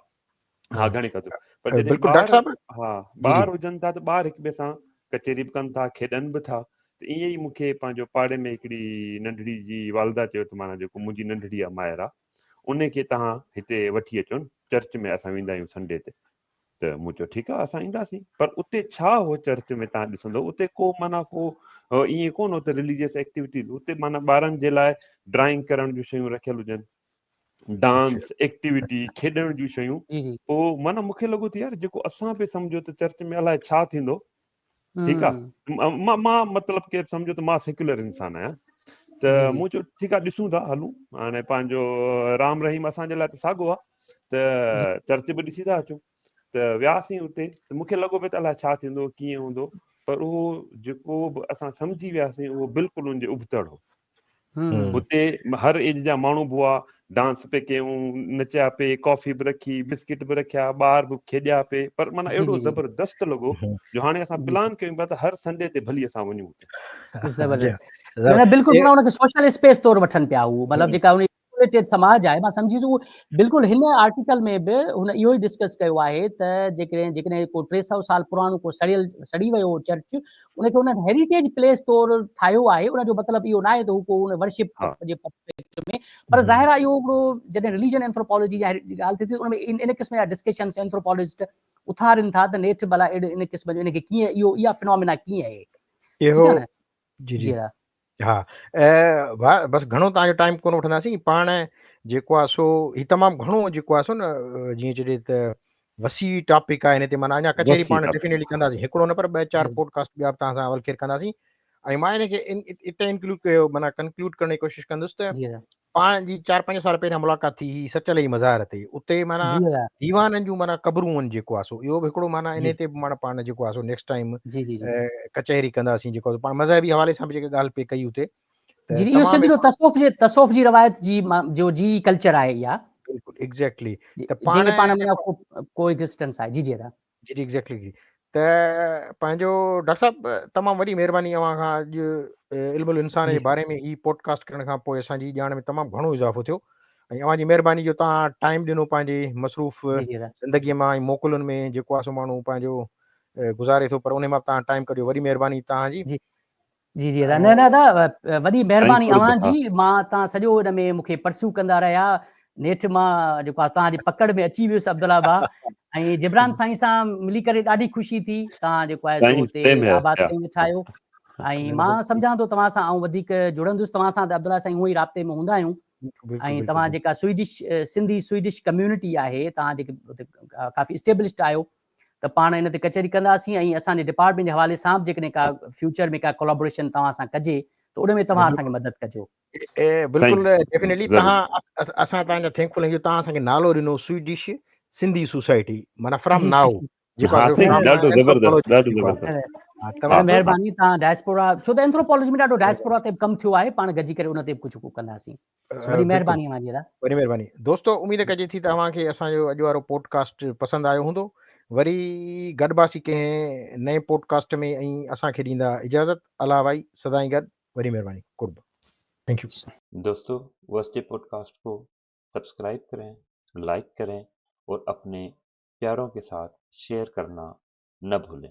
ها گهڻي قدر پر جڏهن ٻار ها ٻار هجن ٿا ته ٻار هڪ ٻئي سان ڪچهري به ڪن ٿا کيڏن به ٿا ته ائين ئي مونکي پنهنجو پاڙي ۾ هڪڙي ننڍڙي جي والده چيو ته معنيٰ جيڪو منهنجي ننڍڙي آهي مائرا انهي کي توهان هتي وٺي اچو نه چرچ ۾ اسان ويندا آهيون سنڊي تي ته مون چيو ٺيڪ آهي اسان اينداسين پر اتي ڇا هو چرچ ۾ توهان ڏسندو اتي ڪو معنيٰ ڪو ائين ڪونه اتي رليجيس ايڪٽيوٽيز اتي معنيٰ ٻارن جي لاء ڊرائنگ ڪرڻ جون شيون رکيل هجن ڊانس ايڪٽيوٽي کيڏڻ جون شيون پوء معنيٰ مونکي لڳو ته يار جيڪو اسان پي سمجهو ته چرچ ۾ الاء ڇا ٿيندو ٺيڪ آ مان مان مطلب ڪير سمجهيو ته مان سيڪولر انسان آهيان ته مون چيو ٺيڪ آ ڏسون ٿا هلون هاڻي پنهنجو رام رحيم اسان جي لاء ته ساڳو آ ته چرچ به ڏسي ٿا اچون ته وياسين اتي ته مونکي لڳو پئي ته الاء ڇا ٿيندو ڪيئن هوندو پر اهو جيڪو به اسان سمجهي وياسين اهو بلڪل ان جي ابتڙ هو اتي هر ايج جا ماڻهو به هئا، ڊانس پئي ڪيون، نچيا پئي، ڪافي به رکي، بسڪٽ به رکيا، ٻار به کيڏيا پئي، پر معنيٰ اهڙو زبردست لڳو جو هاڻي اسان پلان ڪيون پيا ته هر سنڊي تي ڀلي اسان وڃون اتي. زبردست. معنيٰ بلڪل پاڻ ان کي سوشل اسپيس طور وٺن پيا هو، مطلب جيڪا انهي ڪيوريٽيڊ سماج آهي مان سمجهي ٿو بلڪل هن آرٽيڪل ۾ به هن اهو ئي ڊسڪس ڪيو آهي ته جيڪڏهن جيڪڏهن ڪو ٽي سؤ سال پراڻو ڪو سڙيل سڙي ويو چرچ ان کي هن هيريٽيج پليس طور ٺاهيو آهي ان جو مطلب اهو ناهي ته هو ڪو ان ورشپ جي پرفيڪٽ ۾ پر ظاهر آهي اهو هڪڙو جڏهن رليجن اينٿروپالوجي جي ڳالهه ٿي ٿي ان ۾ ان قسم جا ڊسڪشنس اينٿروپالوجسٽ اٿارين ٿا ته نيٺ ڀلا ان قسم جو ان کي ڪيئن اهو اها فنامينا ڪيئن آهي اهو جي جي ها بس گهڻو تان جو ٽائيم ڪون وٺندا سين پاڻ جيڪو آ سو هي تمام گهڻو جيڪو آ سو نه جي چي ته وسيع ٽاپڪ آ هن تي معنی اڃا ڪچهري پاڻ ڊيفينيٽلي ڪندا سين هڪڙو نه پر ٻه چار پوڊڪاسٽ ٻيا تان سان اول کير ڪندا سين ۽ معنی کي اتي انڪلوڊ ڪيو معنی ڪنڪلوڊ ڪرڻ جي ڪوشش ڪندس ته پاڻ جي چار پنج سال پهريان ملاقات ٿي هئي سچل جي مزار تي اتي معنيٰ جي آيا ديوانن جون معنيٰ قبرون ان جيڪو آسو اهو به هڪڙو معنيٰ جي انهي تي به معنيٰ پاڻ جيڪو آسو نيڪسٽ ٽائيم جي جي جي ڪچهري ڪنداسين جيڪو آسو پاڻ مذهبي حوالي سان به جيڪا ڳالهه پئي ڪئي اتي ته جي جي اهو تمام سنڌ جو اهڙو تصوف جي تصوف جي روايت جي ما جو جي ڪلچر آهي اها بلڪل ايگزيڪٽلي جي ته جنهن پاڻ ۾ پاڻ ۾ جيڪو ڪو ڪو ايگزسٽنس آهي جي جي ادا جي جي ايگزيڪٽلي جي ته پنهنجو ڊاڪٽر صاحب تمام وڏي مهرباني اوهان کان اڄ علم الانسان جي باري ۾ هي پوڊڪاسٽ ڪرڻ کان پوء اسان جي ڄاڻ ۾ تمام گهڻو اضافو ٿيو ۽ اوهان جي مهرباني جو تان ٽائيم ڏنو پنهنجي مصروف زندگي مان ۽ موڪلن ۾ جيڪو آسو ماڻهو پنهنجو گذاري ٿو پر ان مان تان ٽائيم ڪڍيو وڏي مهرباني تان جي جي جي ادا نه نه ادا وڏي مهرباني اوهان جي مان تان سڄو ان ۾ مونکي پرسو ڪندا رهيا نيٺ مان جيڪو آ تان جي پڪڙ ۾ اچي ويس عبدالله با ۽ جبران سائين سان ملي ڪري ڏاڍي خوشي ٿي تان جيڪو آ سو تي آباد ٿي وٺايو ۽ مان سمجهان ٿو توهان سان آئون وڌيڪ جڙندس توهان سان ته عبدالله سائين هو ئي رابطي ۾ هوندا آهيون ۽ توهان جيڪا سوئيڊش سنڌي سوئيڊش ڪميونٽي آهي توهان جيڪي اتي ڪافي اسٽيبلشڊ آهيو ته پاڻ ان تي ڪچهري ڪنداسين ۽ اسان جي ڊپارٽمينٽ جي حوالي سان به جيڪڏهن ڪا فيوچر ۾ ڪا ڪولابوريشن توهان سان ڪجي ته ان ۾ توهان اسان کي مدد ڪجو. بلڪل ڊيفنيٽلي توهان اسان توهان جا ٿينڪفل آهيون توهان اسان کي نالو ڏنو سوئيڊش سنڌي سوسائٽي معنيٰ فرام نائو مهرباني توهان ڊائسپورا ڇو ته اينٿروپالوجي ۾ ڏاڍو ڊائسپورا تي به ڪم ٿيو آهي پاڻ گڏجي ڪري ان تي به ڪجهه ڪنداسين وڏي مهرباني اوهان جي ادا وڏي مهرباني دوستو اميد ڪجي ٿي ته اوهان کي اسان جو اڄ وارو پوڊڪاسٽ پسند آيو هوندو وري گڏباسي ڪنهن نئين پوڊڪاسٽ ۾ ۽ اسان کي ڏيندا اجازت الله وائي سدائين گڏ وڏي مهرباني قرب ٿينڪ يو دوستو وس جي پوڊڪاسٽ کو سبسڪرائب ڪرين لائڪ ڪرين اور اپني پياروں کے ساتھ شيئر کرنا نه بھولين